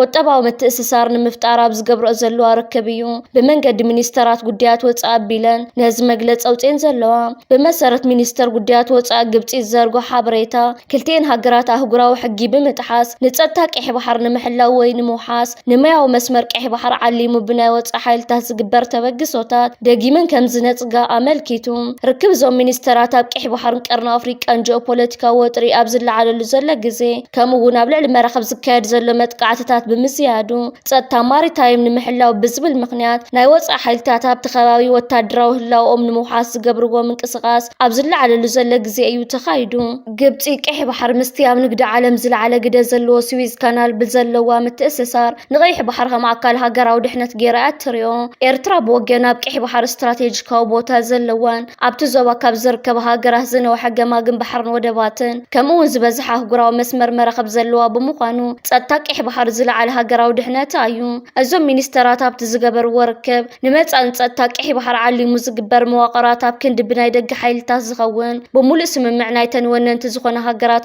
ቁጠባዊ ምትእስሳር ንምፍጣር ኣብ ዝገብረኦ ዘለዋ ርክብ እዩ ብመንገዲ ሚኒስተራት ጉዳያት ወፃኢ ኣቢለን ነዚ መግለፂ ኣውፅኤን ዘለዋ። ብመሰረት ሚኒስተር ጉዳያት ወፃኢ ግብፂ ዝዘርጎ ሓበሬታ ክልቲኤን ሃገራት ኣህጉራዊ ሕጊ ብምጥሓስ ንፀጥታ ቀይሕ ባሕሪ ንምሕላው ወይ ንምውሓስ ንማያዊ መስመር ቀይሕ ባሕሪ ዓሊሙ ብናይ ወፃኢ ሓይልታት ዝግበር ተበግሶታት ደጊመን ከም ዝነፅጋ ኣመልኪቱ። ርክብ እዞም ሚኒስተራት ኣብ ቀይሕ ባሕርን ቀርኒ ኣፍሪቃን ጂኦፖለቲካዊ ወጥሪ ኣብ ዝለዓለሉ ዘሎ ግዜ ከምኡ እውን ኣብ ልዕሊ መራኽብ ዝካየድ ዘሎ መጥቃዕትታት ብምዝያዱ ጸጥታ ማሪታይም ንምሕላው ብዝብል ምክንያት ናይ ወፃኢ ሓይልታት ኣብቲ ከባቢ ወታደራዊ ህላውኦም ንምውሓስ ዝገብርዎ ምንቅስቓስ ኣብ ዝለዓለሉ ዘሎ ግዜ እዩ ተኻይዱ። ግብፂ ቀይሕ ባሕሪ ምስቲ ኣብ ንግዲ ዓለም ዝለዓለ ግደ ዘለዎ ስዊዝ ካናል ብዘለዋ ምትእስሳር ንቀይሕ ባሕሪ ከም ኣካል ሃገራዊ ድሕነት ገይራ እያ እትሪኦ። ኤርትራ ብወገና ኣብ ቀይሕ ባሕሪ ስትራቴጂካዊ ቦታ ዘለወን ኣብቲ ዞባ ካብ ዝርከባ ሃገራት ዝነውሐ ገማግም ባሕርን ወደባትን ከምኡ እውን ዝበዝሐ ኣህጉራዊ መስመር መራኽብ ዘለዋ ብምዃኑ ጸጥታ ቀይሕ ባሕሪ ዝለዓለ ሃገራዊ ድሕነታ እዩ። እዞም ሚኒስተራት ኣብቲ ዝገበርዎ ርክብ ንመጻኢ ንጸጥታ ቀይሕ ባሕሪ ዓሊሙ ዝግበር መዋቕራት ኣብ ክንዲ ብናይ ደገ ሓይልታት ዝኸውን ብሙሉእ ስምምዕ ናይተን ወነንቲ ዝኾና ሃገራት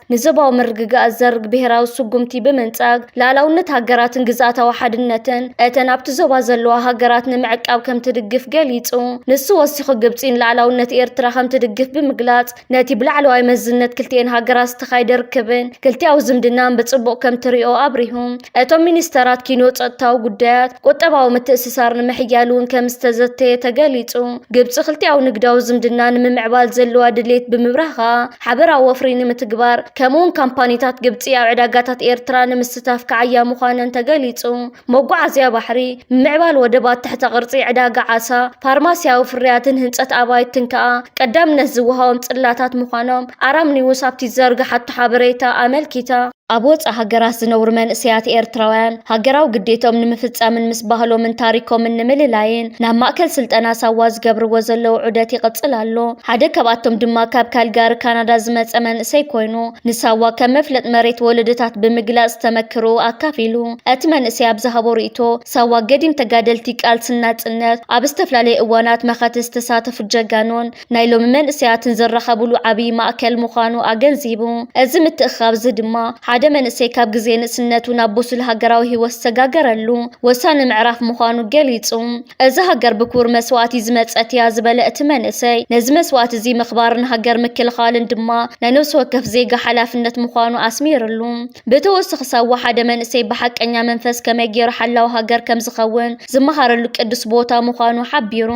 ንዞባዊ ምርግጋእ ዝዘርግ ብሄራዊ ስጉምቲ ብምንጻግ፣ ልኣላውነት ሃገራትን ግዝኣታዊ ሓድነትን እተን ኣብቲ ዞባ ዘለዋ ሃገራት ንምዕቃብ ከምትድግፍ ገሊጹ። ንሱ ወሲኹ ግብጺ ንልኣላውነት ኤርትራ ከምትድግፍ ብምግላጽ፣ ነቲ ብላዕለዋይ መዝነት ክልቲኤን ሃገራት ዝተኻየደ ርክብን ክልቲኣዊ ዝምድናን ብጽቡቕ ከምትሪኦ ኣብሪሁ። እቶም ሚኒስተራት ኪኖ ጸጥታዊ ጉዳያት፣ ቁጠባዊ ምትእስሳር ንምሕያል'ውን ከምዝተዘተየ ተገሊጹ። ግብጺ ክልቲኣዊ ንግዳዊ ዝምድና ንምምዕባል ዘለዋ ድሌት ብምብራህ ከኣ፣ ሓበራዊ ወፍሪ ንምትግባር ከምኡውን ካምፓኒታት ግብፂ ኣብ ዕዳጋታት ኤርትራ ንምስታፍ ክዓያ ምዃነን ተገሊፁ። መጓዓዝያ ባሕሪ፣ ምምዕባል ወደባት ትሕተ ቅርፂ፣ ዕዳጋ ዓሳ፣ ፋርማሲያዊ ፍርያትን ህንፀት ኣባይትን ከኣ ቀዳምነት ዝወሃቦም ፅላታት ምዃኖም ኣራም ኒውስ ኣብቲ ዝዘርገሓቶ ሓበሬታ ኣመልኪታ። ኣብ ወፃእ ሃገራት ዝነብሩ መንእሰያት ኤርትራውያን ሃገራዊ ግዴትኦም ንምፍፃምን ምስ ባህሎምን ታሪኮምን ንምልላይን ናብ ማእከል ስልጠና ሳዋ ዝገብርዎ ዘለዉ ዑደት ይቕፅል ኣሎ። ሓደ ካብኣቶም ድማ ካብ ካልጋሪ ካናዳ ዝመፀ መንእሰይ ኮይኑ ንሳዋ ከም መፍለጥ መሬት ወለዶታት ብምግላፅ ዝተመክርኡ ኣካፊሉ። እቲ መንእሰይ ኣብ ዝሃቦ ሪኢቶ ሳዋ ገዲም ተጋደልቲ ቃልሲ ንናፅነት ኣብ ዝተፈላለዩ እዋናት መኸተ ዝተሳተፉ ጀጋኑን ናይ ሎሚ መንእሰያትን ዝራኸብሉ ዓብዪ ማእከል ምዃኑ ኣገንዚቡ። እዚ ምትእኽኻብ'ዚ ድማ፣ ሓደ መንእሰይ ካብ ግዜ ንእስነቱ ናብ ብሱል ሃገራዊ ህይወት ዝተጋገረሉ ወሳኒ ምዕራፍ ምዃኑ ገሊጹ። እዛ ሃገር ብክቡር መስዋእቲ ዝመጸት'ያ ዝበለ እቲ መንእሰይ፣ ነዚ መስዋእቲ'ዚ ምኽባርን ሃገር ምክልኻልን ድማ ናይ ነብሲ ወከፍ ዜጋ ሓላፍነት ምዃኑ ኣስሚርሉ። ብተወስኽስ ኣወሓደ መንእሰይ ብሓቀኛ መንፈስ ከመይ ገይሩ ሓላው ሃገር ከምዝኸውን ዝመሃረሉ ቅዱስ ቦታ ምዃኑ ሓቢሩ።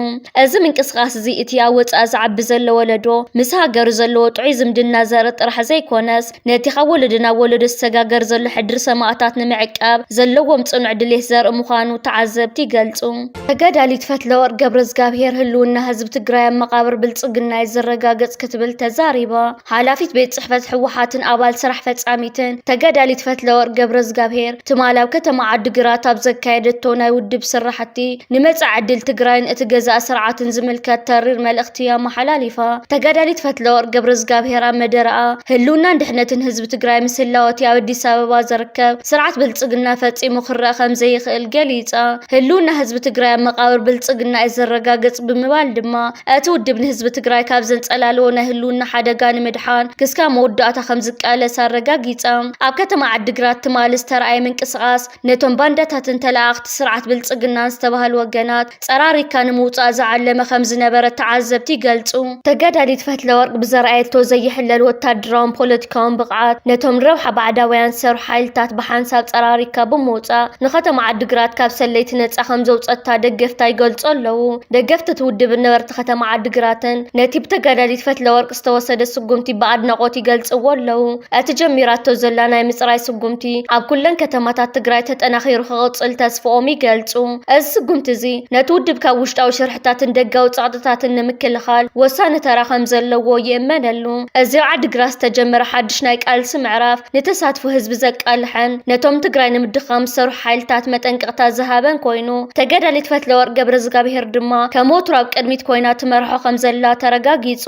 እዚ ምንቅስቃስ እዚ እቲ ኣብ ወጻኢ ዝዓቢ ዘሎ ወለዶ ምስ ሃገሩ ዘለዎ ጥዑይ ዝምድና ዘርኢ ጥራሕ ዘይኮነስ ነቲ ካብ ወለዶ ናብ ወለዶ ዝሰጋገር ዘሎ ሕድሪ ሰማእታት ንምዕቃብ ዘለዎም ጽኑዕ ድሌት ዘርኢ ምዃኑ ተዓዘብቲ ይገልጹ። ተጋዳሊት ፈትለወርቅ ገብረዝጋብሄር ህልውና ህዝቢ ትግራይ ኣብ መቓብር ብልፅግና እዩ ዝረጋገፅ ክትብል ተዛሪባ። ሓላፊት ቤት ፅሕፈት ህወሓትን ኣባል ስራሕ ፈፃሚትን ተጋዳሊት ፈትለወርቅ ገብረዝጋብሄር ትማል ኣብ ከተማ ዓዲግራት ኣብ ዘካየደቶ ናይ ውድብ ስራሕቲ ንመፃኢ ዕድል ትግራይን እቲ ገዛኢ ስርዓትን ዝምልከት ተሪር መልእኽቲ እያ ኣመሓላሊፋ። ተጋዳሊት ፈትለወርቅ ገብረዝጋብሄር ኣብ መደረኣ ህልውናን ድሕነትን ህዝቢ ትግራይ ምስ ህላወ እቲ ኣብ ኣዲስ ኣበባ ዝርከብ ስርዓት ብልፅግና ፈፂሙ ክረኣ ከምዘይኽእል ገሊፃ። ህልውና ህዝቢ ትግራይ ኣብ መቓብር ብልፅግና እዩ ዝረጋገፅ ብምባል ድማ እቲ ውድብ ንህዝቢ ትግራይ ካብ ዘንፀላለዎ ናይ ህልውና ሓደጋ ንምድሓን ክስካብ መወዳእታ ከምዝቃለስ ኣረጋጊፃ። ኣብ ከተማ ዓዲግራት ትማሊ ዝተርኣየ ምንቅስቓስ ነቶም ባንዳታትን ተለኣኣኽቲ ስርዓት ብልፅግናን ዝተባህሉ ወገናት ፀራሪግካ ንምውፃእ ዝዓለመ ከምዝነበረ ተዓዘብቲ ይገልፁ። ተጋዳሊት ፈትለወርቅ ብዘርኣየቶ ዘይሕለል ወታደራውን ፖለቲካውን ከም ብቕዓት ነቶም ንረብሓ ባዕዳውያን ዝሰርሑ ሓይልታት ብሓንሳብ ጸራሪግካ ብምውጻእ፣ ንከተማ ዓዲግራት ካብ ሰለይቲ ነጻ ከም ዘውጸትታ ደገፍታ ይገልጹ ኣለዉ። ደገፍቲ እቲ ውድብን ነበርቲ ከተማ ዓዲግራትን ነቲ ብተጋዳሊት ፈትለወርቅ ዝተወሰደ ስጉምቲ ብኣድናቖት ይገልጽዎ ኣለዉ። እቲ ጀሚራቶ ዘላ ናይ ምጽራይ ስጉምቲ ኣብ ኩለን ከተማታት ትግራይ ተጠናኺሩ ክቕጽል ተስፍኦም ይገልጹ። እዚ ስጉምቲ እዚ ነቲ ውድብ ካብ ውሽጣዊ ሽርሒ ሓይልታትን ደጋዊ ጸቕጥታትን ንምክልኻል ወሳኒ ተራ ከም ዘለዎ ይእመነሉ። እዚ ኣብ ዓዲግራት ዝተጀመረ ሓድሽ ናይ ቃልሲ ምዕራፍ፣ ንተሳትፎ ህዝቢ ዘቃልሐን ነቶም ትግራይ ንምድኻም ዝሰርሑ ሓይልታት መጠንቀቕታ ዝሃበን ኮይኑ፣ ተጋዳሊት ፈትለወርቅ ገብረዝጋብሄር ድማ ከም ወትሩ ኣብ ቅድሚት ኮይና ትመርሖ ከም ዘላ ተረጋጊጹ።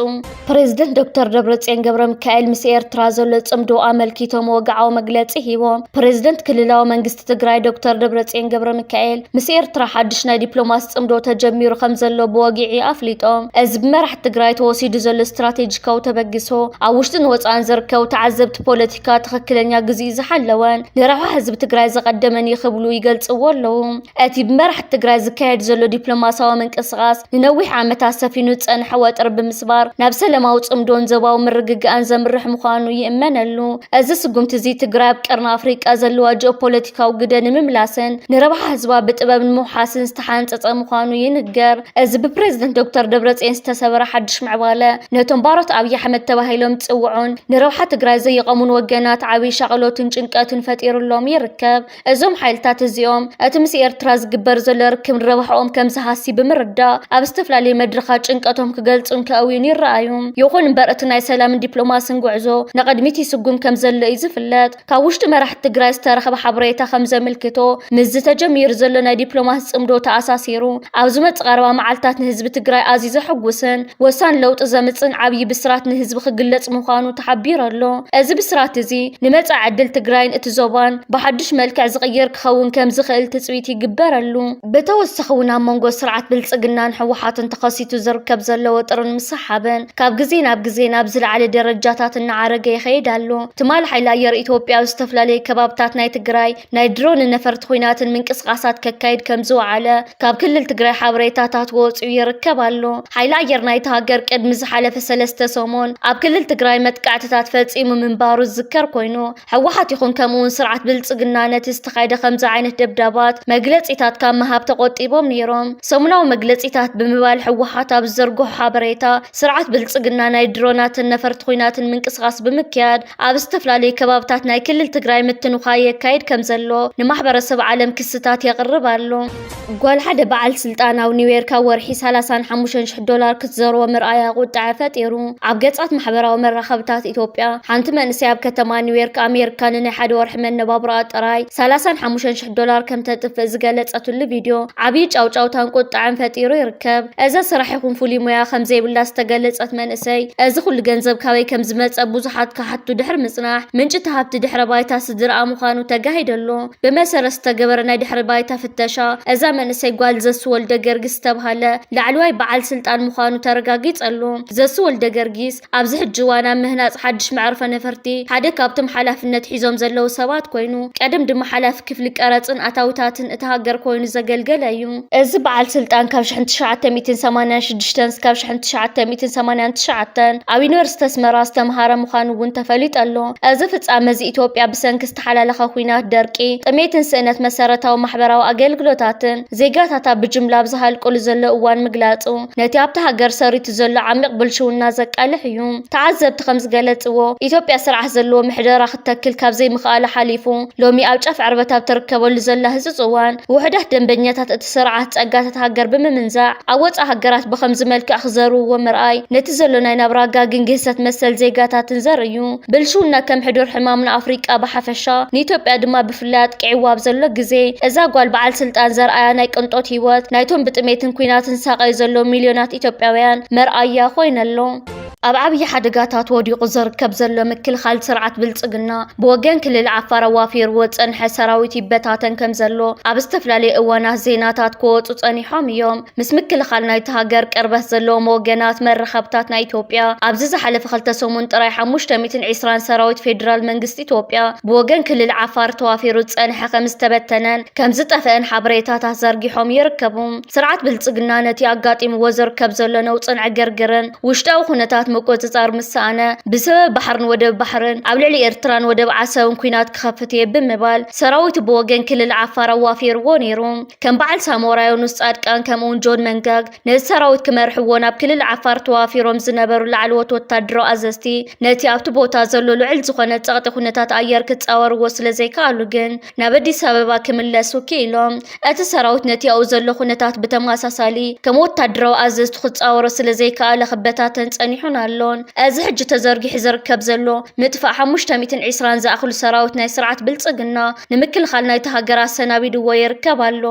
ፕሬዝደንት ዶክተር ደብረፅዮን ገብረሚካኤል ምስ ኤርትራ ዘሎ ፅምዶ ኣመልኪቶም ወግዓዊ መግለፂ ሂቦም። ፕሬዝደንት ክልላዊ መንግስቲ ትግራይ ዶክተር ደብረፅዮን ገብረሚካኤል ምስ ኤርትራ ሓድሽ ናይ ዲፕሎማሲ ፅምዶ ተጀሚሩ ከምዘሎ ብወግዒ ኣፍሊጦም። እዚ ብመራሕቲ ትግራይ ተወሲዱ ዘሎ ስትራቴጂካዊ ተበግሶ ኣብ ውሽጥን ወፃእን ዝርከቡ ተዓዘብቲ ፖለቲካ ፖለቲካ ትኽክለኛ ግዚኡ ዝሓለወን ንረብሓ ህዝቢ ትግራይ ዘቐደመን እዩ ክብሉ ይገልፅዎ ኣለዉ። እቲ ብመራሕቲ ትግራይ ዝካየድ ዘሎ ዲፕሎማስያዊ ምንቅስቓስ ንነዊሕ ዓመታት ሰፊኑ ዝፀንሐ ወጥሪ ብምስባር ናብ ሰለማዊ ፅምዶን ዞባዊ ምርግጋእን ዘምርሕ ምዃኑ ይእመነሉ። እዚ ስጉምቲ እዚ ትግራይ ኣብ ቀርኒ ኣፍሪቃ ዘለዋ ጂኦፖለቲካዊ ግደ ንምምላስን ንረብሓ ህዝባ ብጥበብ ንምውሓስን ዝተሓንፀፀ ምዃኑ ይንገር። እዚ ብፕረዚደንት ዶክተር ደብረፅዮን ዝተሰበረ ሓዱሽ ምዕባለ ነቶም ባሮት ኣብዪ ኣሕመድ ተባሂሎም ዝፅውዑን ንረብሓ ትግራይ ዘይቐሙን ወገናት ዓብዪ ሻቕሎትን ጭንቀትን ፈጢሩሎም ይርከብ። እዞም ሓይልታት እዚኦም እቲ ምስ ኤርትራ ዝግበር ዘሎ ርክብ ንረብሓኦም ከምዝሃሲ ብምርዳእ ኣብ ዝተፈላለዩ መድረኻት ጭንቀቶም ክገልፁን ከእውዩን ይረኣዩ። ይኹን እምበር እቲ ናይ ሰላምን ዲፕሎማስን ጉዕዞ ንቕድሚት ይስጉም ከምዘሎ እዩ ዝፍለጥ። ካብ ውሽጢ መራሕቲ ትግራይ ዝተረኽበ ሓበሬታ ከም ዘምልክቶ ምስዚ ተጀሚሩ ዘሎ ናይ ዲፕሎማሲ ጽምዶ ተኣሳሲሩ ኣብ ዝመጽእ ቀረባ መዓልትታት ንህዝቢ ትግራይ ኣዝዩ ዘሐጉስን ወሳኒ ለውጢ ዘምጽእን ዓብዪ ብስራት ንህዝቢ ክግለጽ ምዃኑ ተሓቢሩ ኣሎ። እዚ ብስራት እዚ ንመጻኢ ዕድል ትግራይን እቲ ዞባን ብሓዱሽ መልክዕ ዝቕይር ክኸውን ከም ዝኽእል ትጽቢት ይግበረሉ። ብተወሳኺ እውን ኣብ መንጎ ስርዓት ብልጽግናን ህወሓትን ተኸሲቱ ዝርከብ ዘሎ ወጥርን ምስሓብን ካብ ግዜ ናብ ግዜ ናብ ዝለዓለ ደረጃታት እናዓረገ ይኸይድ ኣሎ። ትማል ሓይሊ ኣየር ኢትዮጵያ ኣብ ዝተፈላለዩ ከባብታት ናይ ትግራይ ናይ ድሮንን ነፈርቲ ኲናትን ምንቅስቓሳት ከካይድ ከም ዝወዓለ ካብ ክልል ትግራይ ሓበሬታታት ወፂኡ ይርከብ ኣሎ። ሓይሊ ኣየር ናይቲ ሃገር ቅድሚ ዝሓለፈ ሰለስተ ሰሙን ኣብ ክልል ትግራይ መጥቃዕትታት ፈፂሙ ምንባሩ ዝዝከር ኮይኑ ህወሓት ይኹን ከምኡ ውን ስርዓት ብልፅግና ነቲ ዝተኻየደ ከምዚ ዓይነት ደብዳባት መግለፂታት ካብ ምሃብ ተቖጢቦም ነይሮም። ሰሙናዊ መግለፂታት ብምባል ህወሓት ኣብ ዝዘርግሖ ሓበሬታ ስርዓት ብልፅግና ናይ ድሮናትን ነፈርቲ ኹናትን ምንቅስቓስ ብምክያድ ኣብ ዝተፈላለዩ ከባብታት ናይ ክልል ትግራይ ምትንዃ የካይድ ከምዘሎ ንማሕበረሰብ ዓለም ክስታት የቕርብ ኣሎ። ጓል ሓደ በዓል ስልጣን ኣብ ኒውዮርክ ኣብ ወርሒ ሰላሳን ሓሙሽተን ሽሕ ዶላር ክትዘርዎ ምርኣያ ቁጥዐ ፈጢሩ። ኣብ ገጻት ማሕበራዊ መራኸብታት ኢትዮጵያ፣ ሓንቲ መንእሰይ ኣብ ከተማ ኒውዮርክ ኣሜሪካ ንናይ ሓደ ወርሒ መነባብሮኣ ጥራይ ሰላሳን ሓሙሽተን ሽሕ ዶላር ከም ተጥፍእ ዝገለጸትሉ ቪድዮ ዓብዪ ጫውጫውታን ቁጥዐን ፈጢሩ ይርከብ። እዛ ስራሕ ይኹን ፍሉይ ሞያ ከም ዘይብላ ዝተገለጸት መንእሰይ፣ እዚ ኹሉ ገንዘብ ካበይ ከም ዝመጸ ብዙሓት ክሓቱ ድሕሪ ምጽናሕ፣ ምንጪ እቲ ሃብቲ ድሕረ ባይታ ስድርኣ ምዃኑ ተጋሂደሎ። ብመሰረት ዝተገበረ ናይ ድሕሪ ባይታ ፍተሻ እዛ መንእሰይ ጓል ዘሱ ወልደገርጊስ ዝተብሃለ ላዕለዋይ በዓል ስልጣን ምዃኑ ተረጋጊጸሉ። ዘሱ ወልደገርጊስ ኣብዚ ሕጂ እዋን ኣብ ምህናጽ ሓድሽ መዕርፎ ነፈርቲ ሓደ ካብቶም ሓላፍነት ሒዞም ዘለዉ ሰባት ኮይኑ፣ ቀደም ድማ ሓላፊ ክፍሊ ቀረጽን ኣታዊታትን እታ ሃገር ኮይኑ ዘገልገለ እዩ። እዚ በዓል ስልጣን ካብ ሽሕን ትሽዓተ ሚእትን ሰማንያን ሽዱሽተን ስካብ ሽሕን ትሽዓተ ሚእትን ሰማንያን ትሽዓተን ኣብ ዩኒቨርሲቲ ኣስመራ ዝተምሃረ ምዃኑ እውን ተፈሊጡ ኣሎ። እዚ ፍጻመ እዚ ኢትዮጵያ ብሰንኪ ዝተሓላለኸ ኹናት፣ ደርቂ፣ ጥሜትን ስእነት መሰረታዊ ማሕበራዊ ኣገልግሎታትን ዜጋታታ ብጅምላ ኣብ ዝሃልቁሉ ዘሎ እዋን ምግላጹ ነቲ ኣብታ ሃገር ሰሪቱ ዘሎ ዓሚቕ ብልሽውና ዘቃልሕ እዩ። ተዓዘብቲ ከም ዝገለጽዎ፣ ኢትዮጵያ ስርዓት ዘለዎ ምሕደራ ክትተክል ካብ ዘይምኽኣላ ሓሊፉ ሎሚ ኣብ ጫፍ ዕርበት ኣብ ትርከበሉ ዘላ ህጹጽ እዋን ውሑዳት ደንበኛታት እቲ ስርዓት ፀጋታት ሃገር ብምምንዛዕ ኣብ ወፃኢ ሃገራት ብኸምዚ መልክዕ ክዘርውዎ ምርኣይ ነቲ ዘሎ ናይ ናብራ ጋግን ግህሰት መሰል ዜጋታትን ዘርኢ እዩ። ብልሽውና ከም ሕዱር ሕማም ንኣፍሪቃ ብሓፈሻ ንኢትዮጵያ ድማ ብፍላይ ኣጥቂዕዋ ኣብ ዘሎ ግዜ እዛ ጓል በዓል ስልጣን ዘርኣያ ናይ ቅንጦት ህይወት ናይቶም ብጥሜትን ኲናትን ዝሳቐዩ ዘለዉ ሚልዮናት ኢትዮጵያውያን መርኣያ ኮይኑ ኣሎ። ኣብ ዓብዪ ሓደጋታት ወዲቑ ዝርከብ ዘሎ ምክልኻል ስርዓት ብልፅግና ብወገን ክልል ዓፋር ኣዋፊርዎ ዝፀንሐ ሰራዊት ይበታተን ከም ዘሎ ኣብ ዝተፈላለዩ እዋናት ዜናታት ክወፁ ፀኒሖም እዮም። ምስ ምክልኻል ናይቲ ሃገር ቅርበት ዘለዎም ወገናት መራኸብታት ናይ ኢትዮጵያ ኣብዚ ዝሓለፈ ክልተ ሰሙን ጥራይ ሓሙሽተ ሚእትን ዒስራን ሰራዊት ፌዴራል መንግስቲ ኢትዮጵያ ብወገን ክልል ዓፋር ተዋፊሩ ዝፀንሐ ከም ዝተበተነን ከም ዝጠፍአን ሓበሬታታት ዘርጊሖም ይርከቡ። ስርዓት ብልፅግና ነቲ ኣጋጢምዎ ዝርከብ ዘሎ ነውፅን ዕግርግርን ውሽጣዊ ኩነታት ምቁፅፃር ምስ ሰኣነ ብሰበብ ባሕርን ወደብ ባሕርን ኣብ ልዕሊ ኤርትራን ወደብ ዓሰብን ኲናት ክኸፍት እየ ብምባል ሰራዊቱ ብወገን ክልል ዓፋር ኣዋፊርዎ ነይሩ። ከም በዓል ሳሞራ ዮኑስ ፃድቃን ከምኡ'ውን ጆን መንጋግ ነዚ ሰራዊት ክመርሕዎ ናብ ክልል ዓፋር ተዋፊሮም ዝነበሩ ላዕለዎት ወታደራዊ ኣዘዝቲ ነቲ ኣብቲ ቦታ ዘሎ ልዑል ዝኾነ ፀቕጢ ኩነታት ኣየር ክፃወርዎ ስለዘይከኣሉ ግን ናብ ኣዲስ ኣበባ ክምለሱ ክኢሎም። እቲ ሰራዊት ነቲ ኣብኡ ዘሎ ኩነታት ብተመሳሳሊ ከም ወታደራዊ ኣዘዝቱ ክጻወሮ ስለ ዘይከኣለ ክበታተን ጸኒሑን ኣሎን። እዚ ሕጂ ተዘርጊሑ ዝርከብ ዘሎ ምጥፋእ ሓሙሽተ ሚእትን ዒስራን ዝኣኽሉ ሰራዊት ናይ ስርዓት ብልጽግና ንምክልኻል ናይታ ሃገር ኣሰናቢዱዎ ይርከብ ኣሎ።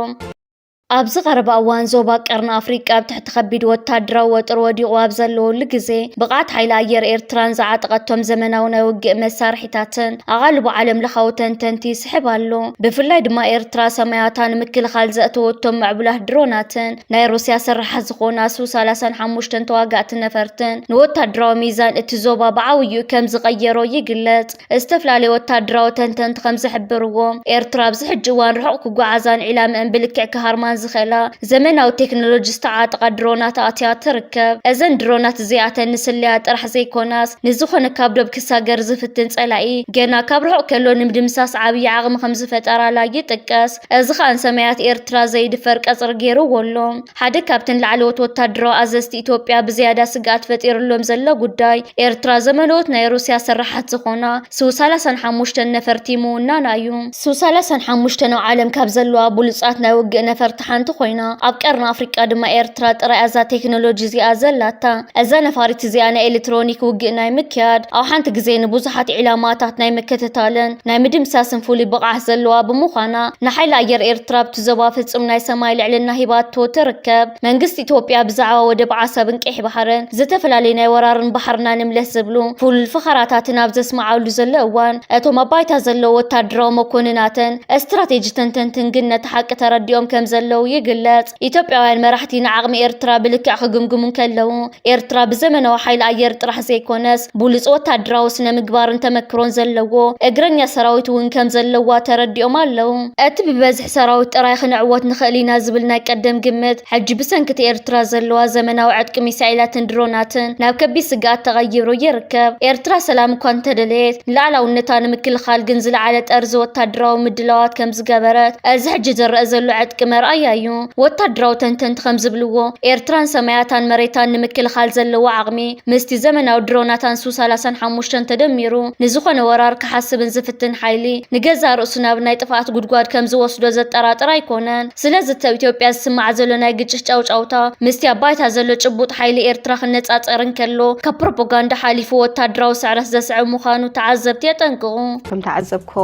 ኣብዚ ቀረባ እዋን ዞባ ቀርኒ ኣፍሪቃ ኣብ ትሕቲ ከቢድ ወታደራዊ ወጥሪ ወዲቑ ኣብ ዘለወሉ ግዜ ብቕዓት ሓይሊ ኣየር ኤርትራን ዝዓጠቐቶም ዘመናዊ ናይ ውግእ መሳርሒታትን ኣቓልቦ ዓለም ለኻዊ ተንተንቲ ይስሕብ ኣሎ። ብፍላይ ድማ ኤርትራ ሰማያታ ንምክልኻል ዘእተወቶም ምዕቡላት ድሮናትን ናይ ሩስያ ስራሓት ዝኾና ሱ 35 ተዋጋእቲ ነፈርትን ንወታደራዊ ሚዛን እቲ ዞባ ብዓብይኡ ከም ዝቐየሮ ይግለጽ። ዝተፈላለዩ ወታደራዊ ተንተንቲ ከም ዝሕብርዎ፣ ኤርትራ ኣብዚ ሕጂ እዋን ርሑቕ ክጓዓዛን ዒላምኣን ብልክዕ ክሃርማን ዝኽእላ ዘመናዊ ቴክኖሎጂ ዝተዓጠቓ ድሮናት ኣእትያ ትርከብ። እዘን ድሮናት እዚኣተን ንስለያ ጥራሕ ዘይኮናስ፣ ንዝኾነ ካብ ዶብ ክሳገር ዝፍትን ጸላኢ ገና ካብ ርሑቕ ከሎ ንምድምሳስ ዓብዪ ዓቕሚ ከም ዝፈጠራላ ይጥቀስ። እዚ ኸኣ ንሰማያት ኤርትራ ዘይድፈር ቀጽሪ ገይርዎ ኣሎ። ሓደ ካብተን ላዕለዎት ወተሃደራዊ ኣዘዝቲ ኢትዮጵያ ብዝያዳ ስግኣት ፈጢርሎም ዘሎ ጉዳይ፣ ኤርትራ ዘመለዎት ናይ ሩስያ ሰራሓት ዝኾና ሱ ሰላሳን ሓሙሽተን ነፈርቲ ምውናና እዩ። ሱ ሰላሳን ሓሙሽተን ኣብ ዓለም ካብ ዘለዋ ብሉጻት ናይ ውግእ ነፈርቲ ሓንቲ ኮይና፣ ኣብ ቀርኒ ኣፍሪቃ ድማ ኤርትራ ጥራይ እያ እዛ ቴክኖሎጂ እዚኣ ዘላታ። እዛ ነፋሪት እዚኣ ናይ ኤለትሮኒክ ውግእ ናይ ምክያድ፣ ኣብ ሓንቲ ግዜ ንብዙሓት ዒላማታት ናይ ምክትታልን፣ ናይ ምድምሳስን ፍሉይ ብቕዓት ዘለዋ ብምዃና ንሓይሊ ኣየር ኤርትራ ኣብቲ ዞባ ፍጹም ናይ ሰማይ ልዕልና ሂባቶ ትርከብ። መንግስቲ ኢትዮጵያ ብዛዕባ ወደብ ዓሰብን ቀይሕ ባሕርን ዝተፈላለዩ ናይ ወራርን ባሕርና ንምለስ ዝብሉ ፍሉል ፈኸራታትን ኣብ ዘስምዓሉ ዘሎ እዋን እቶም ኣብ ባይታ ዘለዉ ወታደራዊ መኮንናትን እስትራቴጂ ተንተንትን ግን ነቲ ሓቂ ተረዲኦም ከምዘለዉ ይግለጽ። ኢትዮጵያውያን መራሕቲ ንዓቕሚ ኤርትራ ብልክዕ ክግምግሙ እንከለዉ፣ ኤርትራ ብዘመናዊ ሓይሊ ኣየር ጥራሕ ዘይኮነስ፣ ብሉጽ ወተሃደራዊ ስነ-ምግባርን ተመክሮን ዘለዎ እግረኛ ሰራዊት እውን ከም ዘለዋ ተረዲኦም ኣለዉ። እቲ ብበዝሒ ሰራዊት ጥራይ ክንዕወት ንኽእል ኢና ዝብል ናይ ቀደም ግምት፣ ሕጂ ብሰንኪ እቲ ኤርትራ ዘለዋ ዘመናዊ ዕጥቂ ሚሳኤላትን ድሮናትን ናብ ከቢድ ስግኣት ተቐይሩ ይርከብ። ኤርትራ ሰላም እኳ እንተደለየት፣ ንሉኣላውነታ ንምክልኻል ግን ዝለዓለ ጠርዚ ወተሃደራዊ ምድላዋት ከም ዝገበረት። እዚ ሕጂ ዝረኣ ዘሎ ዕጥቂ መርኣያ እዩ። ወታደራዊ ተንተንቲ ከም ዝብልዎ፣ ኤርትራን ሰማያታን መሬታን ንምክልኻል ዘለዋ ዓቕሚ ምስቲ ዘመናዊ ድሮናታን ሱ ሰላሳን ሓሙሽተን ተደሚሩ ንዝኾነ ወራር ክሓስብን ዝፍትን ሓይሊ ንገዛእ ርእሱ ናብ ናይ ጥፍኣት ጉድጓድ ከም ዝወስዶ ዘጠራጥር ኣይኮነን። ስለዚ እቲ ኣብ ኢትዮጵያ ዝስማዕ ዘሎ ናይ ግጭት ጫውጫውታ ምስቲ ኣብ ባይታ ዘሎ ጭቡጥ ሓይሊ ኤርትራ ክነጻጸር እንከሎ ካብ ፕሮፖጋንዳ ሓሊፉ ወታደራዊ ስዕረት ዘስዕብ ምዃኑ ተዓዘብቲ የጠንቅቑ። እቶም ተዓዘብቲ እኮ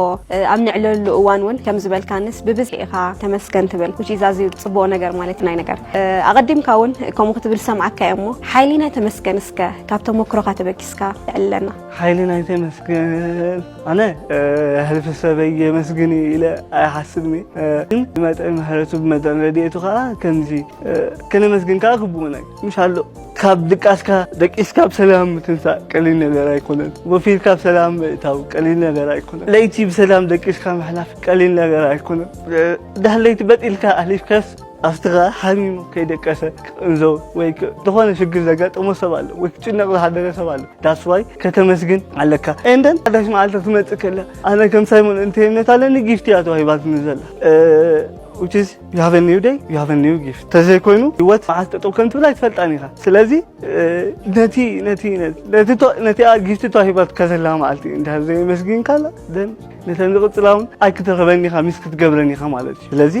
ኣብ ንዕለሉ እዋን እውን ከም ዝበልካንስ ብብዝሒ ኢኻ ተመስገን ትብል which is ኣዝዩ ጽቡቕ ነገር ማለት ናይ ነገር ኣቐዲምካ እውን ከምኡ ክትብል ሰምዓካ እየ እሞ ሓይሊናይ ተመስገን እስከ ካብ ተመክሮኻ ተበጊስካ የዕልለና ሓይሊናይ ተመስገን ኣነ ሕልፊ ሰበይ የመስግን ኢለ ኣይሓስብኒ ግን ብመጠን ምሕረቱ ብመጠን ረድኤቱ ከዓ ከምዚ ከነመስግን ከዓ ግቡእና እዩ ምሽ ኣሎ ካብ ድቃስካ ደቂስካ ብሰላም ምትንሳእ ቀሊል ነገር ኣይኮነን። ወፊርካ ብሰላም ምእታው ቀሊል ነገር ኣይኮነን። ለይቲ ብሰላም ደቂስካ ምሕላፍ ቀሊል ነገር ኣይኮነን። ድሕሪ ለይቲ በጢልካ ኣሕሊፍካስ ኣፍትኻ ሓሚሙ ከይደቀሰ ክቅንዞ ወይ ዝኾነ ሽግር ዘጋጠሞ ሰብ ኣሎ ወይ ክጭነቕ ዝሓደረ ሰብ ኣሎ ዳስዋይ ከተመስግን ኣለካ እንደን ሓዳሽ መዓልቲ ክትመፅእ ከላ ኣነ ከም ሳይሞን እንተይነት ኣለኒ ጊፍቲ እያ ተዋሂባትኒ ዘላ ዩ ሃቭ ኒው ደይ ዩ ሃቭ ኒው ጊፍት ተዘይኮይኑ ህይወት መዓስ ጠጠው ከም ትብል ኣይትፈልጣን ኢኻ ስለዚ ነቲ ነቲ ነቲኣ ጊፍቲ ተዋሂባትካ ዘላ መዓልቲ እንድሕር ዘየመስጊንካላ ደን ነተን ዝቕፅላ እውን ኣይክትረኽበን ኢኻ ሚስ ክትገብረን ኢኻ ማለት እዩ ስለዚ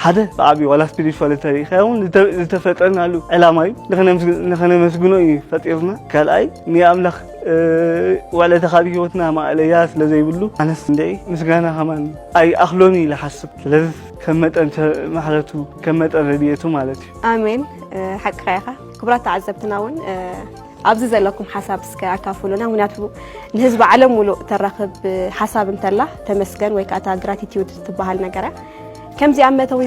ሓደ ብዓብዪ ዋላ ስፒሪቹዋል ተሪኢኻ እውን ዝተፈጠርናሉ ዕላማ እዩ ንኸነመስግኖ እዩ ፈጢርና ካልኣይ ንኣምላኽ ዋላ እቲ ካብ ሂወትና ማእለያ ስለ ዘይብሉ ኣነስ እንድዒ ምስጋና ከማን ኣይኣኽሎን ኢለ ሓስብ ስለዚ ከም መጠን ማሕረቱ ከም መጠን ረድኤቱ ማለት እዩ ኣሜን ሓቅኻ ኢኻ ክቡራት ተዓዘብትና እውን ኣብዚ ዘለኩም ሓሳብ እስከ ኣካፍሉና ምክንያቱ ንህዝቢ ዓለም ሙሉእ ተራኽብ ሓሳብ እንተላ ተመስገን ወይ ከዓ እታ ግራቲቲዩድ ትበሃል ነገረ ከምዚ ኣብ መእተዊ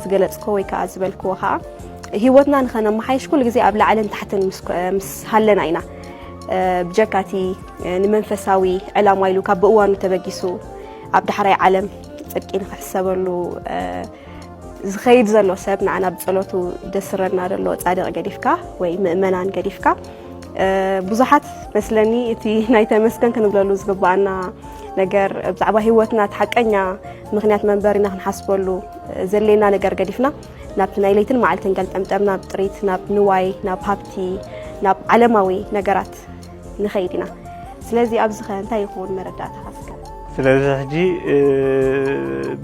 ዝገለጽክዎ ወይ ከኣ ዝበልክዎ ከኣ ህይወትና ንኸነመሓይሽ ኩሉ ግዜ ኣብ ላዕልን ታሕትን ምስ ሃለና ኢና ብጀካ እቲ ንመንፈሳዊ ዕላማ ኢሉ ካብ ብእዋኑ ተበጊሱ ኣብ ዳሕራይ ዓለም ጽድቂ ንኽሕሰበሉ ዝኸይድ ዘሎ ሰብ ንዓና ብጸሎቱ ደስረና ዘሎ ጻድቕ ገዲፍካ ወይ ምእመናን ገዲፍካ ብዙሓት መስለኒ እቲ ናይ ተመስገን ክንብለሉ ዝግባኣና ነገር ብዛዕባ ሂወትና እቲ ሓቀኛ ምክንያት መንበሪና ክንሓስበሉ ዘድልየና ነገር ገዲፍና ናብቲ ናይ ለይትን መዓልትን ገልጠምጠም ናብ ጥሪት ናብ ንዋይ ናብ ሃብቲ ናብ ዓለማዊ ነገራት ንኸይድ ኢና ስለዚ ኣብዚ ኸ እንታይ ይኸውን መረዳእታ ካስከ ስለዚ ሕጂ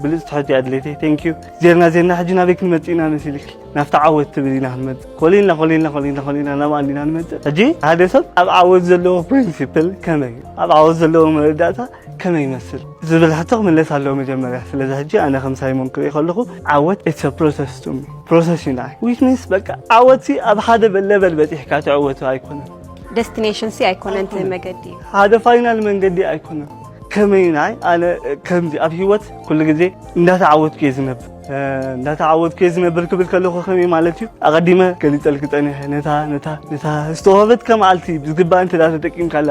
ብልፅቲ ሕጂ ኣድለይቲ ቴንኪዩ ዜርና ዜርና ሕጂ ናበይ ክንመፅእ ኢና መሲልኪ ናብቲ ዓወት ትብል ኢና ክንመፅእ ኮሊልና ኮሊልና ኮሊልና ኮሊና ናብ ኣንዲና ንመፅእ ሕጂ ሓደ ሰብ ኣብ ዓወት ዘለዎ ፕሪንሲፕል ከመይ ኣብ ዓወት ዘለዎ መረዳእታ ከመይ ይመስል ዝብል ሕቶ ክምለስ ኣለዎ መጀመርያ ስለዚ ሕጂ ኣነ ከም ሳይሞን ክርኢ ከለኹ ዓወት ኢትስ አ ፕሮሰስ ቱ ሚ ፕሮሰስ እዩ ንዓይ ዊች ሚንስ በቃ ዓወት ሲ ኣብ ሓደ ለበል በጺሕካ ትዕወቱ ኣይኮነን ደስቲኔሽን ሲ ኣይኮነን እቲ መገዲ እዩ ሓደ ፋይናል መንገዲ ኣይኮነን ከመይ ንዓይ ኣነ ከምዚ ኣብ ሂወት ኩሉ ግዜ እንዳተዓወትኩ እየ ዝነብር እንዳተዓወትኩ እየ ዝነብር ክብል ከለኹ ከመይ ማለት እዩ ኣቐዲመ ገሊፀልኪ ፀኒሐ ነታ ነታ ነታ ዝተዋህበትካ መዓልቲ ብዝግባእ እንተ ተጠቂምካላ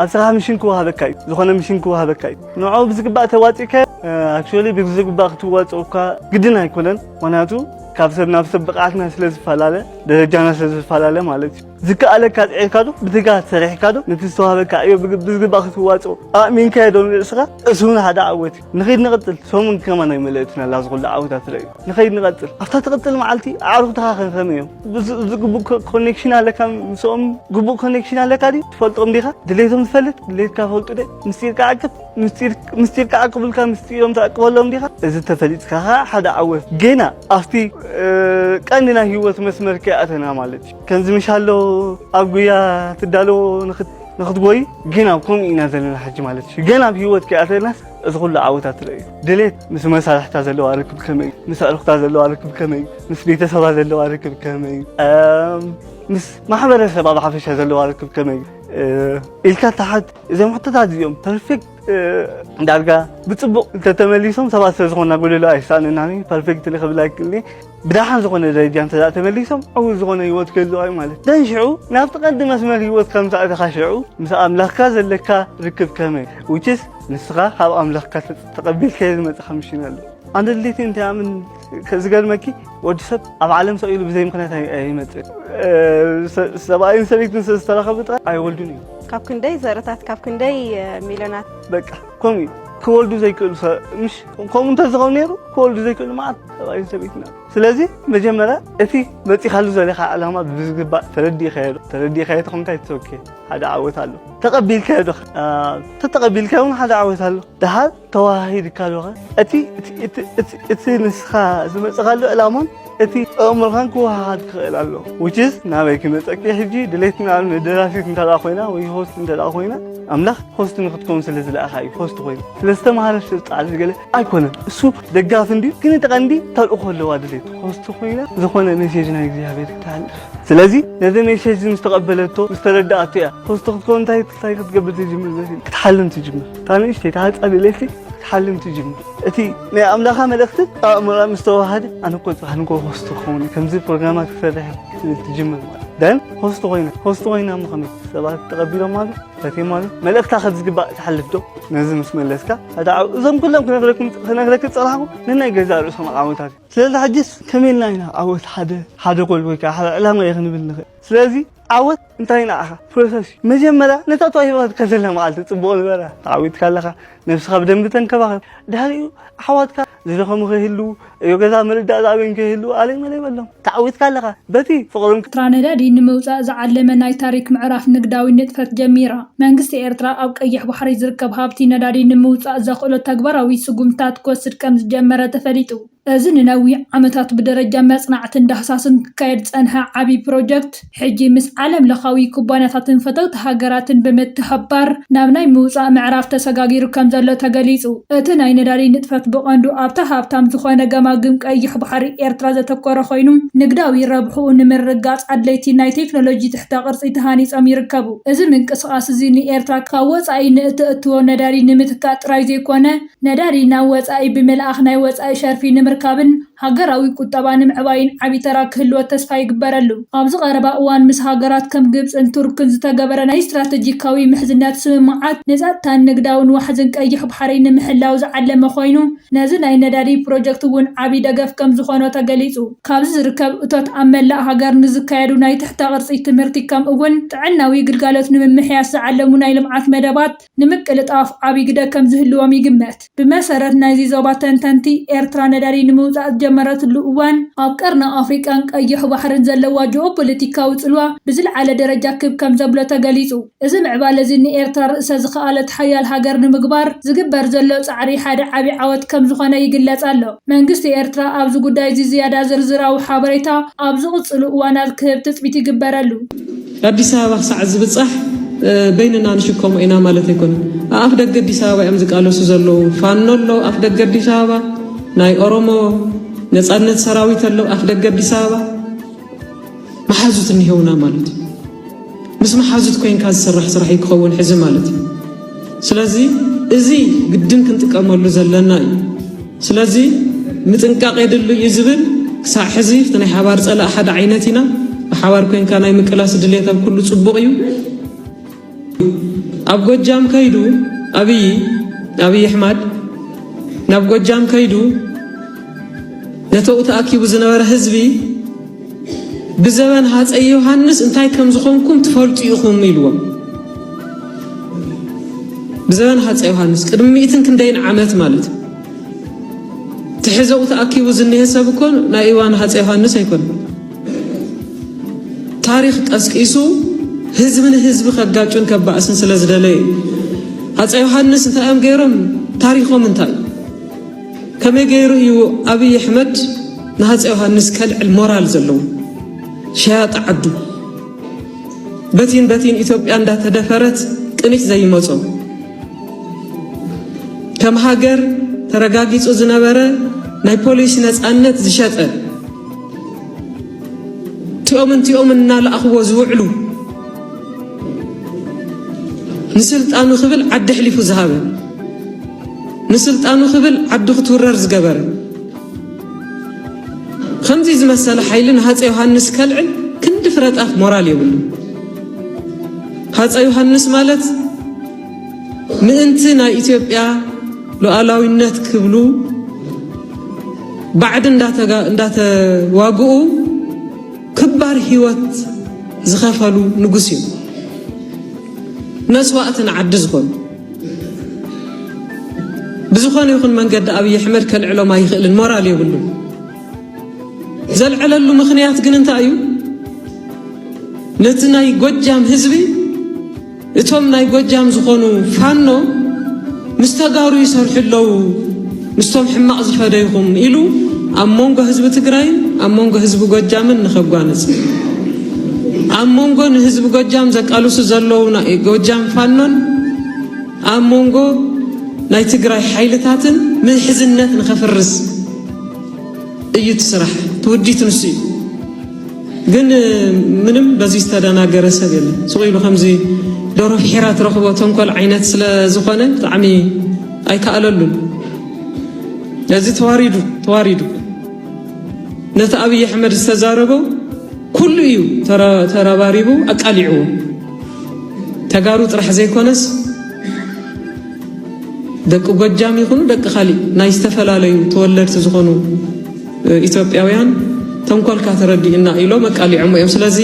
ኣብ ስራሕ ምሽን ክወሃበካ እዩ ዝኾነ ምሽን ክወሃበካ እዩ ንዕኡ ብዝግባእ ተዋፂእካዮ ኣክቹዋሊ ብዝግባእ ክትዋፅኦ እኳ ግድን ኣይኮነን ምክንያቱ ካብ ሰብ ናብ ሰብ ብቕዓትና ስለ ዝፈላለ ደረጃና ስለ ዝፈላለ ማለት እዩ ዝከኣለካ ፅዒርካ ዶ ብትጋት ሰሪሕካ ዶ ነቲ ዝተዋሃበካ ዕዮ ብዝግባእ ክትዋፅኦ ኣእሚንካዮ ዶ ንርእስኻ እሱ እውን ሓደ ዓወት ንኸይድ ንቐጽል ሰሙን ከማን ኣይመለእትና ኣላ ዝኹሉ ዓውታት ረዩ ንኸይድ ንቐጽል ኣብታ ትቕጽል መዓልቲ ኣዕሩኽትኻ ከንከም እዮም ግቡእ ኮኔክሽን ኣለካ ምስኦም ግቡእ ኮኔክሽን ኣለካ ድዩ ትፈልጦም ዲኻ ድሌቶም ዝፈልጥ ድሌትካ ፈልጡ ደ ምስጢርካ ዓቅብ ምስጢርካ ዓቅብልካ ምስጢሮም ተዕቅበሎም ዲኻ እዚ ተፈሊጥካ ከዓ ሓደ ዓወት ገና ኣብቲ ቀንዲ ናይ ህይወት መስመር ከይኣተና ማለት እዩ ከምዚ ምሻሎ ኣብ ጉያ ትዳለዎ ንክትጎይ ግን ኣብ ከምኡ ኢና ዘለና ሕጂ ማለት እዩ ገና ኣብ ሂወት ከይኣተናስ እዚ ኩሉ ዓወታት ትርኢ ድሌት ምስ መሳርሕታ ዘለዋ ርክብ ከመይ እዩ ምስ ኣዕሩኽታ ዘለዋ ርክብ ከመይ እዩ ምስ ቤተሰባ ዘለዋ ርክብ ከመይ እዩ ምስ ማሕበረሰባ ብሓፈሻ ዘለዋ ርክብ ከመይ እዩ ኢልካ ተሓት እዞም ሕቶታት እዚኦም ፐርፌክት ዳርጋ ብፅቡቕ እንተተመሊሶም ሰባት ስለዝኾንና ጎደሎ ኣይሰኣነናን ፐርፌክት ንክብል ኣይክእልኒ ብደሓን ዝኾነ ደረጃ እንተ ተመሊሶም ዕዉት ዝኾነ ህይወት ክህልዋ እዩ ማለት እዩ። ደን ሽዑ ናብቲ ቀንዲ መስመር ህይወት ከም ተኣተኻ ሽዑ ምስ ኣምላኽካ ዘለካ ርክብ ከመይ ውችስ ንስኻ ካብ ኣምላኽካ ተቐቢልካዮ ዝመጽኻ ምሽን ኣሎ ኣንድ ድሌቲ እንታይ ኣምን ዝገርመኪ ወዲ ሰብ ኣብ ዓለም ሰው ኢሉ ብዘይ ምክንያት ኣይመጽእ ሰብኣይን ሰበይትን ስለ ዝተረኸቡ ጥራይ ኣይወልዱን እዩ ካብ ክንደይ ዘረታት ካብ ክንደይ ሚልዮናት በቃ ከምኡ ክወልዱ ዘይክእሉ ምሽ ከምኡ እንተዝኸውን ነይሩ ክወልዱ ዘይክእሉ መዓት ሰብኣይን ሰበይትን ኣለዉ ስለዚ መጀመርያ እቲ መፂኻሉ ዘለኻ ዕላማ ብዝግባእ ተረዲእካዮ ዶ ተረዲእካዮ ተኾንካ ይትሶኬ ሓደ ዓወት ኣሎ ተቐቢልካዮ ዶ ተተቐቢልካዮ እውን ሓደ ዓወት ኣሎ ደሓር ተወሃሂድካ ዶኸ እቲ እቲ ንስኻ ዝመፅኻሉ ዕላማን እቲ ጥዑም መልኻን ክወሃሃድ ክኽእል ኣሎ which is ናበይ ክመፀኪ ሕጂ ድሌትና ንደራሲት እንተ ኮይና ወይ ሆስት እንተ ኮይና ኣምላኽ ሆስት ንክትከውን ስለ ዝለኣኻ እዩ ሆስት ኮይኑ ስለ ዝተምሃረት ስልጣን ዝገለ ኣይኮነን እሱ ደጋፊ እንድዩ ግን እቲ ቀንዲ ተልእኾ ኣለዋ ድሌት ሆስት ኮይና ዝኾነ ሜሴጅ ናይ እግዚኣብሔር ይተሃልፍ ስለዚ ነዚ ሜሴጅ ምስ ተቐበለቶ ምስ ተረዳኣቶ እያ ሆስት ክትከውን እንታይ ክትገብር ትጅምር ክትሓልም ትጅምር እታ ንእሽተይ ተሃፃ ድሌት ክትሓልም ትጅምር እቲ ናይ ኣምላኻ መልእኽትን ኣእምሮኣ ምስ ተዋሃደ ኣነ እኮ ጽባሕ ንጎ ሆስት ክኸውን ከምዚ ፕሮግራማት ክሰርሕ ትጅምር ማለት ደን ሆስት ኮይነ ሆስት ኮይነ እሞ ከመይ ሰባት ተቐቢሎም ኣሉ ፈትዮም ኣሉ መልእኽታ ከም ዝግባእ ትሓልፍ ዶ ነዚ ምስ መለስካ ሓደ ዓው እዞም ኩሎም ክነግረኩም ክነግረክ ጸላሕኩ ንናይ ገዛ ርእሶም ዓወታት ስለዚ ሕጅስ ከመይ ኢልና ኢና ዓወት ሓደ ሓደ ጎል ወይ ከዓ ሓደ ዕላማ እዩ ክንብል ንኽእል ስለዚ ዓወት እንታይ ንዓኻ ፕሮሰስ እዩ መጀመርያ ነታ ተዋሂባ ትከዘለ መዓልቲ ፅቡቕ ንበራ ተዓዊትካ ኣለኻ ነብስኻ ብደንቢ ተንከባኸብ ድሕሪኡ ኣሕዋትካ ዝደኸሙ ከይህልዉ እዮ ገዛ ምርዳእ ዝኣበዮም ከይህልዉ ኣለይ መለይ በሎም ተዓዊትካ ኣለኻ በቲ ፍቕርን ኤርትራ ነዳዲ ንምውፃእ ዝዓለመ ናይ ታሪክ ምዕራፍ ንግዳዊ ንጥፈት ጀሚራ። መንግስቲ ኤርትራ ኣብ ቀይሕ ባሕሪ ዝርከብ ሃብቲ ነዳዲ ንምውፃእ ዘኽእሎ ተግባራዊ ስጉምትታት ክወስድ ከምዝጀመረ ተፈሊጡ። እዚ ንነዊሕ ዓመታት ብደረጃ መጽናዕትን ዳህሳስን ክካየድ ዝጸንሐ ዓቢ ፕሮጀክት፣ ሕጂ ምስ ዓለምለኻዊ ኩባንያታትን ፈተውቲ ሃገራትን ብምትሕብባር ናብ ናይ ምውጻእ ምዕራፍ ተሰጋጊሩ ከምዘሎ ተገሊጹ። እቲ ናይ ነዳዲ ንጥፈት ብቐንዱ ኣብታ ሃብታም ዝኾነ ገማግም ቀይሕ ባሕሪ ኤርትራ ዘተኮረ ኮይኑ፣ ንግዳዊ ረብሕኡ ንምርግጋጽ ኣድለይቲ ናይ ቴክኖሎጂ ትሕተ ቅርጺ ተሃኒጾም ይርከቡ። እዚ ምንቅስቓስ'ዚ ንኤርትራ ካብ ወጻኢ ንእተእትዎ ነዳዲ ንምትካእ ጥራይ ዘይኮነ፣ ነዳዲ ናብ ወፃኢ ብምልኣኽ ናይ ወፃኢ ሸርፊ ንምርካብን ሃገራዊ ቁጠባ ንምዕባይን ዓብዪ ተራ ክህልዎ ተስፋ ይግበረሉ። ኣብዚ ቀረባ እዋን ምስ ሃገራት ከም ግብፅን ቱርክን ዝተገበረ ናይ ስትራተጂካዊ ምሕዝነት ስምምዓት ንፀጥታን ንግዳውን ዋሕዝን ቀይሕ ባሕሪ ንምሕላው ዝዓለመ ኮይኑ ነዚ ናይ ነዳዲ ፕሮጀክት እውን ዓብዪ ደገፍ ከምዝኾኖ ተገሊፁ። ካብዚ ዝርከብ እቶት ኣብ መላእ ሃገር ንዝካየዱ ናይ ትሕተ ቅርፂ ትምህርቲ ከምኡ እውን ጥዕናዊ ግልጋሎት ንምምሕያሽ ዝዓለሙ ናይ ልምዓት መደባት ንምቅልጣፍ ዓብዪ ግደ ከም ዝህልዎም ይግመት። ብመሰረት ናይዚ ዞባ ተንተንቲ፣ ኤርትራ ነዳዲ ንምውጻእ ዝጀመረትሉ እዋን፣ ኣብ ቀርኒ ኣፍሪቃን ቀይሕ ባሕርን ዘለዋ ጂኦፖለቲካዊ ጽልዋ ብዝልዓለ ደረጃ ክብ ከም ዘብሎ ተገሊጹ። እዚ ምዕባለ'ዚ ንኤርትራ ርእሰ ዝኸኣለት ሓያል ሃገር ንምግባር ዝግበር ዘሎ ጻዕሪ ሓደ ዓቢ ዓወት ከም ዝኾነ ይግለጽ ኣሎ። መንግስቲ ኤርትራ ኣብዚ ጉዳይ'ዚ ዝያዳ ዝርዝራዊ ሓበሬታ ኣብ ዝቕጽሉ እዋናት ክህብ ትጽቢት ይግበረሉ። ኣዲስ ኣበባ ክሳዕ ዝብጻሕ በይንና ንሽከሞ ኢና ማለት ኣይኮነን። ኣኣፍ ደገ ኣዲስ ኣበባ እዮም ዝቃለሱ ዘለዉ። ፋኖ ኣሎ ኣፍ ደገ ኣዲስ ኣበባ፣ ናይ ኦሮሞ ነጻነት ሰራዊት ኣሎ ኣፍ ደገ ኣዲስ ኣበባ። መሓዙት እኒሄውና ማለት እዩ። ምስ መሓዙት ኮንካ ዝስራሕ ስራሕ እዩ ክኸውን ሕዚ ማለት እዩ። ስለዚ እዚ ግድን ክንጥቀመሉ ዘለና እዩ። ስለዚ ምጥንቃቕ የድሉ እዩ ዝብል ክሳዕ ሕዚ እቲ ናይ ሓባር ፀላእ ሓደ ዓይነት ኢና ብሓባር ኮንካ ናይ ምቅላስ ድሌት ኣብ ኩሉ ፅቡቕ እዩ። ኣብ ጎጃም ከይዱ ኣብይ ኣብይ ኣሕማድ ናብ ጎጃም ከይዱ ነተኡ ተኣኪቡ ዝነበረ ህዝቢ ብዘበን ሃፀይ ዮሃንስ እንታይ ከም ዝኾንኩም ትፈልጡ ኢኹም ኢልዎም ብዘበን ሃፀ ዮሃንስ ቅድሚ ሚእትን ክንደይን ዓመት ማለት እዩ ትሕዘኡ ተኣኪቡ ዝኒሀ ሰብ እኮ ናይ እዋን ሃፀ ዮሃንስ ኣይኮነ ታሪክ ቀስቂሱ ህዝቢ ንህዝቢ ከጋጩን ከባእስን ስለ ዝደለየ ሃፀ ዮሃንስ እንታይ እዮም ገይሮም ታሪኮም እንታይ ከመይ ገይሩ እዩ ኣብይ ኣሕመድ ንሃፀ ዮሃንስ ከልዕል ሞራል ዘለዎ ሸያጢ ዓዱ በቲን በቲን ኢትዮጵያ እንዳተደፈረት ቅኒት ዘይመጾ ከም ሃገር ተረጋጊጹ ዝነበረ ናይ ፖሊሲ ነፃነት ዝሸጠ እቲኦምን እቲኦምን እናለኣኽዎ ዝውዕሉ ንስልጣኑ ክብል ዓዲ ኣሕሊፉ ዝሃበ ንስልጣኑ ክብል ዓዲ ክትውረር ዝገበረ ከምዚ ዝመሰለ ሓይሊ ንሃፀ ዮሃንስ ከልዕል ክንዲ ፍረጣፍ ሞራል የብሉ ሃፀ ዮሃንስ ማለት ምእንቲ ናይ ኢትዮጵያ ሉዓላዊነት ክብሉ ባዕዲ እንዳተዋግኡ ክባር ህይወት ዝኸፈሉ ንጉስ እዩ መስዋእቲ ንዓዲ ዝኾኑ ብዝኾነ ይኹን መንገዲ ኣብዪ ኣሕመድ ከልዕሎም ኣይኽእልን ሞራል የብሉ ዘልዕለሉ ምኽንያት ግን እንታይ እዩ ነቲ ናይ ጎጃም ህዝቢ እቶም ናይ ጎጃም ዝኾኑ ፋኖ ምስ ተጋሩ ይሰርሑ ኣለዉ ምስቶም ሕማቕ ዝፈደይኹም ኢሉ ኣብ መንጎ ህዝቢ ትግራይን ኣብ መንጎ ህዝቢ ጎጃምን ንኸጓንፅ ኣብ መንጎ ንህዝቢ ጎጃም ዘቃልሱ ዘለዉ ጎጃም ፋኖን ኣብ መንጎ ናይ ትግራይ ሓይልታትን ምሕዝነት ንኸፍርስ እዩ ትስራሕ ትውዲት ንሱ እዩ ግን ምንም በዚ ዝተደናገረ ሰብ የለን ስቁ ኢሉ ከምዚ ዶሮ ፍሒራ ትረኽቦ ተንኮል ዓይነት ስለ ዝኾነ ብጣዕሚ ኣይከኣለሉን ነዚ ተዋሪዱ ተዋሪዱ ነቲ ኣብይ ኣሕመድ ዝተዛረቦ ኩሉ እዩ ተረባሪቡ ኣቃሊዕዎ ተጋሩ ጥራሕ ዘይኮነስ ደቂ ጎጃም ይኹኑ ደቂ ካሊእ ናይ ዝተፈላለዩ ተወለድቲ ዝኾኑ ኢትዮጵያውያን ተንኮልካ ተረዲኡና ኢሎም ኣቃሊዖሞ እዮም። ስለዚ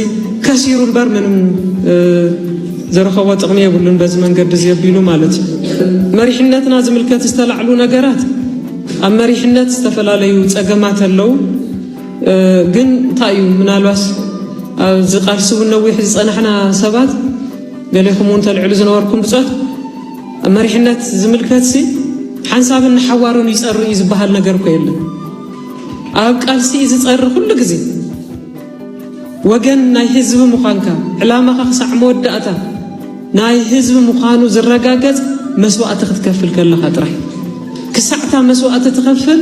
ከሲሩ እምበር ምንም ዘረኸቦ ጥቕሚ የብሉን በዚ መንገዲ እዚ ኣቢሉ ማለት እዩ። መሪሕነትና ዝምልከት ዝተላዕሉ ነገራት ኣብ መሪሕነት ዝተፈላለዩ ጸገማት ኣለዉ። ግን እንታይ እዩ ምናልባስ ኣብዚ ቃልሲ እውን ነዊሕ ዝፀናሕና ሰባት ገሌኹም እውን ተልዕሉ ዝነበርኩም ብፆት መሪሕነት ዝምልከትሲ ሓንሳብን ንሓዋሩን ይጸሪ እዩ ዝበሃል ነገር እኮ የለን። ኣብ ቃልሲ እዩ ዝጸሪ ኩሉ ግዜ ወገን ናይ ህዝቢ ምዃንካ ዕላማኻ ክሳዕ መወዳእታ ናይ ህዝቢ ምዃኑ ዝረጋገጽ መስዋእቲ ክትከፍል ከለኻ ጥራሕ ክሳዕታ መስዋእቲ ትኸፍል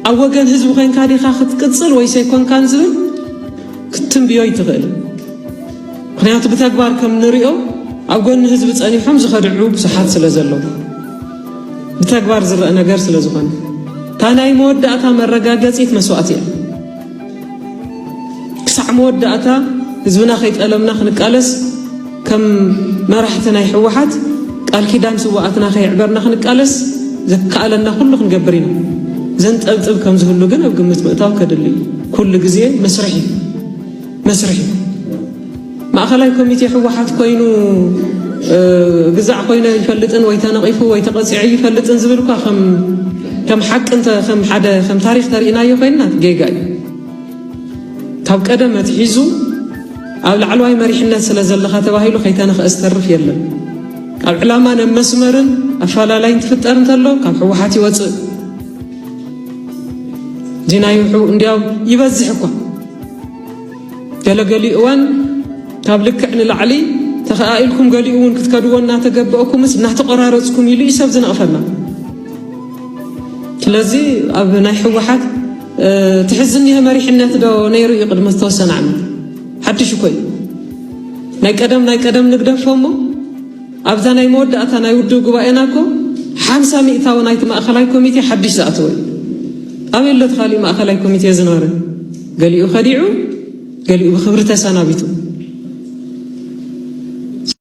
ኣብ ወገን ህዝቢ ኮንካ ዲኻ ክትቅጽል ወይስ ኣይኮንካን ዝብል ክትትንብዮ ኣይትኽእል ምክንያቱ ብተግባር ከም ንሪኦ ኣብ ጎኒ ህዝቢ ጸኒሖም ዝኸድዑ ብዙሓት ስለ ዘለዉ ብተግባር ዝረአ ነገር ስለ ዝኾነ እታ ናይ መወዳእታ መረጋገጺት መስዋእቲ እያ ክሳዕ መወዳእታ ህዝብና ከይጠለምና ክንቃለስ ከም መራሕቲ ናይ ህወሓት ቃል ኪዳን ስውኣትና ከየዕበርና ክንቃለስ ዘከኣለና ኩሉ ክንገብር ኢና። ዘንጠብጥብ ከም ዝህሉ ግን ኣብ ግምት ምእታው ከድሊ እዩ። ኩሉ ግዜ መስርሕ እዩ መስርሕ እዩ። ማእኸላይ ኮሚቴ ህወሓት ኮይኑ ግዛዕ ኮይነ ይፈልጥን ወይ ተነቒፉ ወይ ተቐፂዑ ይፈልጥን ዝብል እኳ ከም ሓቂ ከም ሓደ ከም ታሪክ ተርእናዮ ኮይና ጌጋ እዩ። ካብ ቀደም ኣትሒዙ ኣብ ላዕለዋይ መሪሕነት ስለ ዘለኻ ተባሂሉ ከይተነኽአ ዝተርፍ የለን። ካብ ዕላማ ናብ መስመርን ኣፈላላይ እንትፍጠር እንተሎ ካብ ሕወሓት ይወፅእ ዲናይ እንዲያው ይበዝሕ እኳ ገለገሊ እዋን ካብ ልክዕ ንላዕሊ ተኸኣኢልኩም ገሊኡ እውን ክትከድዎ እናተገበአኩምስ እናተቆራረፅኩም ኢሉ እዩ ሰብ ዝነቕፈና ስለዚ ኣብ ናይ ሕወሓት ትሕዝኒሀ መሪሕነት ዶ ነይሩ እዩ ቅድሚ ዝተወሰነ ዓመት ሓድሽ እኮ እዩ ናይ ቀደም ናይ ቀደም ንግደፎ እሞ ኣብዛ ናይ መወዳእታ ናይ ውድብ ጉባኤና እኮ ሓምሳ ሚእታዊ ናይቲ ማእኸላይ ኮሚቴ ሓድሽ ዝኣተወ እዩ ኣበይ ኣሎ ተኻሊእ ማእኸላይ ኮሚቴ ዝነበረ ገሊኡ ከዲዑ ገሊኡ ብክብሪ ተሰናቢቱ